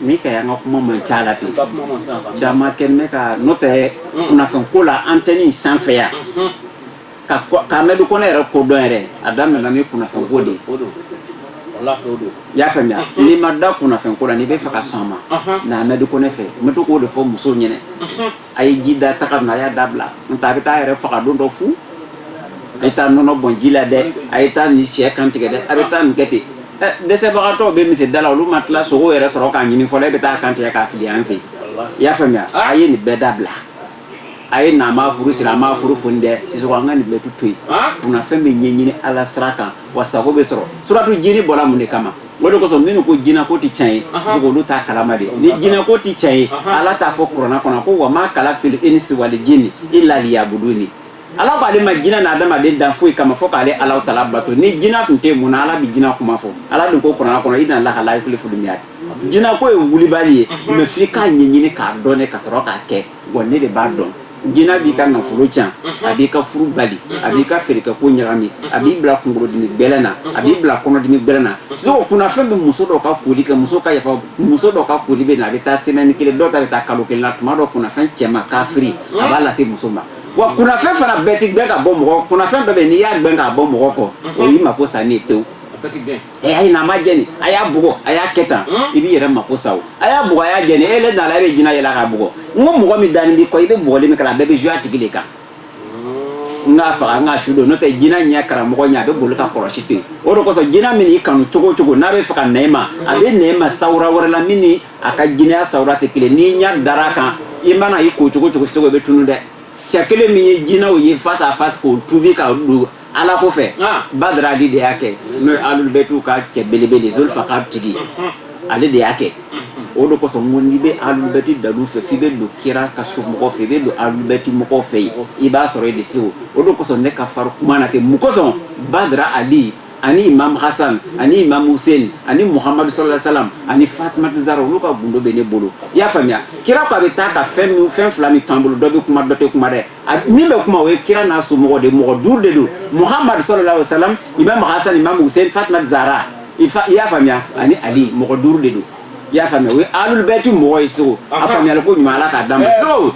min ka y'an ka kuma man ca la ten caman kɛnɛ kan n'o tɛ mm. kunnafɛnko la antɛni sanfɛ yan mm-hmm. ka k'amadu kɔnɛ yɛrɛ kodɔn yɛrɛ a daminɛna ni kunnafɛnko de ye y'a faamuya mm-hmm. n'i ma da kunnafɛnko la n'i bɛ fɛ ka sɔn a ma na amadu kɔnɛ fɛ n bɛ to k'o de fɔ musow ɲɛna mm-hmm. a ye ji da taga na a y'a dabila n'o tɛ a bɛ taa a yɛrɛ faga don dɔ fu a ye taa nɔnɔ bɔn ji la dɛ a ye taa nin syɛ kan tigɛ dɛ a bɛ taa nin kɛ ten ɛ dɛsɛbagatɔw bɛ misiri da la olu ma tila sogo yɛrɛ sɔrɔ k'a ɲimi fɔlɔ e bɛ taa kan tigɛ k'a fili an fɛ yen i y'a faamuya a ye nin bɛɛ dabila a ye na m'a furu siri a m'a furu foni dɛ sisoko an ka nin bɛɛ tu to yen kunnafɛn bɛ ɲɛɲini ala sira kan wa sago bɛ sɔrɔ suratu jini bɔra mun de kama O de kosɔn minnu ko jina ko tɛ can ye olu t'a kalama de ni jina ko tɛ can ye ala t'a fɔ kuranɛ kɔnɔ ko wa ma kalatu li inisi wali jini ila liyabuduni ala k'ale ma jinɛ ni adamaden dan foyi kama fo k'ale ala tala bato ni jina tun tɛ mun na ala bɛ jina kuma fɔ ala dun ko kuranɛ kɔnɔ inalaha la yukulifu limiyadi jina ko ye wulibali ye mɛ fo i k'a ɲɛɲini k'a dɔn ka sɔrɔ k'a kɛ Wa ne de b'a dɔn jinɛ b'i ka nafolo cɛn a b'i ka furu bali a b'i ka feerekɛ ko ɲagami a b'i bila kunkolodimin gbɛlɛ na a b'i bila kɔnɔdimin gbɛlɛ na sisoko kunnafɛn bɛ muso dɔ ka koli kɛ muso ka yafa muso dɔ ka koli bɛ na a bɛ taa semɛni kelen dɔ ta bɛ taa kalo kelen la tuma dɔ kunnafɛn cɛman kafiri a b'a lase muso ma wa kunnafɛn fana bɛɛ tɛ gbɛn ka bɔ mɔgɔ kunnafɛn dɔ bɛ n'i y'a gbɛn k'a bɔ mɔgɔ kɔ o y'i mako sanin ye pewu a y'a ɲini a ma jɛni a y'a bugɔ a y'a kɛ tan i b'i yɛrɛ mako sa o a y'a bugɔ a y'a jɛni e le nana e bɛ jina yɛlɛ k'a bugɔ n ko mɔgɔ min dalen b'i kɔ i bɛ bugɔli min kɛ a bɛɛ bɛ jigi a tigi de kan n k'a faga n k'a su don n'o tɛ jina ɲɛ karamɔgɔ ɲɛ a bɛ boli ka kulusi to yen o de kosɔn jina min y'i kanu cogo o cogo n'a bɛ fɛ ka na e ma a bɛ na e ma sawura wɛrɛ la min ni a ka jinɛya sawura tɛ kelen n'i ɲɛ dara a kan i mana i ko cogo o cogo seko i bɛ tunu dɛ cɛ kelen min ye jinaw ye face à face k'o tubi ka don ala ko fɛ badara ali de y'a kɛ n'o ye alu bɛtiw ka cɛ belebele zulfaka tigi ale de y'a kɛ o de kosɔn ko n'i bɛ alu bɛti dalu fɛ f'i bɛ don kira ka so mɔgɔ fɛ i bɛ don alu bɛti mɔgɔw fɛ yen i b'a sɔrɔ i de se o o de kosɔn ne ka fari kuma na ten mun kosɔn badara ali ani imam hasan ani imam hussein ani muhamadu sala salam ani fatumati zara olu ka gundo bɛ ne bolo i y'a faamuya kira ko a bɛ taa ka fɛn fɛn fila min t'an bolo dɔ bɛ kuma dɔ tɛ kuma dɛ min bɛ kuma o ye kira n'a somɔgɔ de mɔgɔ duuru de don muhamadu salalahu wa salam imam hasan imam hussein fatima zara i y'a faamuya ani ali mɔgɔ duuru de don i y'a faamuya o ye alul bɛti mɔgɔ ye sisoko a faamuyali ko ɲuman ala k'a d'an ma eh, so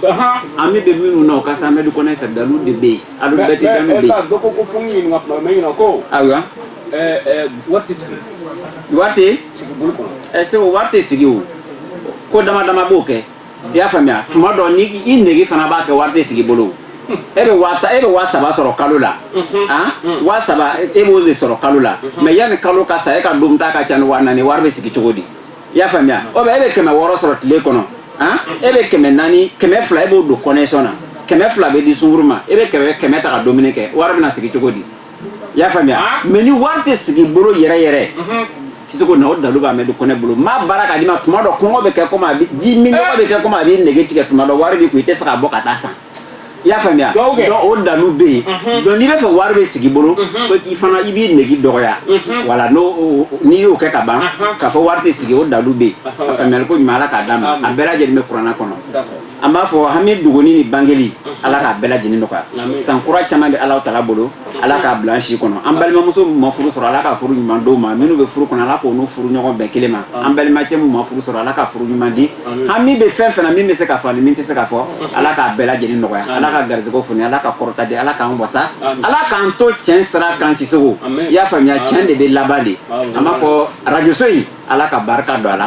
hami bɛ minnu na o ka se amɛdu kɔnɛ fɛ dalu de bɛ yen alul bɛti dalu bɛ yen dɔ ko ko fo n ɲininka kuma mɛ ɲininka ko ayiwa eh, eh, wari tɛ sigi wari tɛ sigi bolo kɔnɔ segu wari tɛ sigi o ko dama dama b'o kɛ i y'a faamuya tuma dɔ ni i nege fana b'a kɛ wari tɛ sigi bolo e bɛ waa e bɛ waa saba sɔrɔ kalo la ah waa saba e b'o de sɔrɔ kalo la mɛ yanni kalo ka sa e ka dunta ka ca ni waa naani wari bɛ sigi cogo di i y'a faamuya ou bien e bɛ kɛmɛ wɔɔrɔ sɔrɔ tile kɔnɔ ah e bɛ kɛmɛ naani kɛmɛ fila e b'o don connexion na kɛmɛ fila bɛ di sungurun ma e bɛ kɛmɛ kɛmɛ ta ka dumuni kɛ wari bɛna sigi cogo di i y'a faamuya ah. mɛ ni wari tɛ sigi bolo yɛrɛ yɛrɛ mhm. sisoko na o dalu b'amɛdu kɔnɛ bolo ma baara k'a di ma tuma dɔ kɔngɔ bɛ kɛ komi a bɛ ji minnɔgɔ bɛ kɛ komi a bɛ nege tigɛ tuma dɔ wari b'i kun i tɛ fɛ ka bɔ ka taa san i y'a faamuya donc o dalu bɛ yen mhm. donc n'i bɛ fɛ wari bɛ sigi bolo mhm. fo k'i fana i b'i nege dɔgɔya wala n'o n'i y'o kɛ ka ban k'a fɔ wari tɛ sigi o dalu bɛ yen ka faamuyali ko ɲuman ala k'a d'an ma a bɛɛ lajɛlen bɛ kuranna kɔnɔ an b'a fɔ hami dogolen ni bangelen ala k'a bɛɛ lajɛlen nɔgɔya san kura caman bɛ ala tala bolo ala k'a bila an si kɔnɔ an balimamuso ma furu sɔrɔ ala ka furu ɲuman d'o ma minnu bɛ furu kɔnɔ ala k'o n'u furu ɲɔgɔn bɛn kelen ma an balimacɛ min ma furu sɔrɔ ala ka furu ɲuman di hami bɛ fɛn fana min bɛ se ka fɔ ni min tɛ se ka fɔ ala k'a bɛɛ lajɛlen nɔgɔya ala ka garisɛgɛw foni ala ka kɔrɔta di ala k'an wasa ala k'an to tiɲɛ sira kan sisoko i y'a faamuya tiɲɛ de bɛ laban dɛ an b'a fɔ arajoso in ala ka barika don a la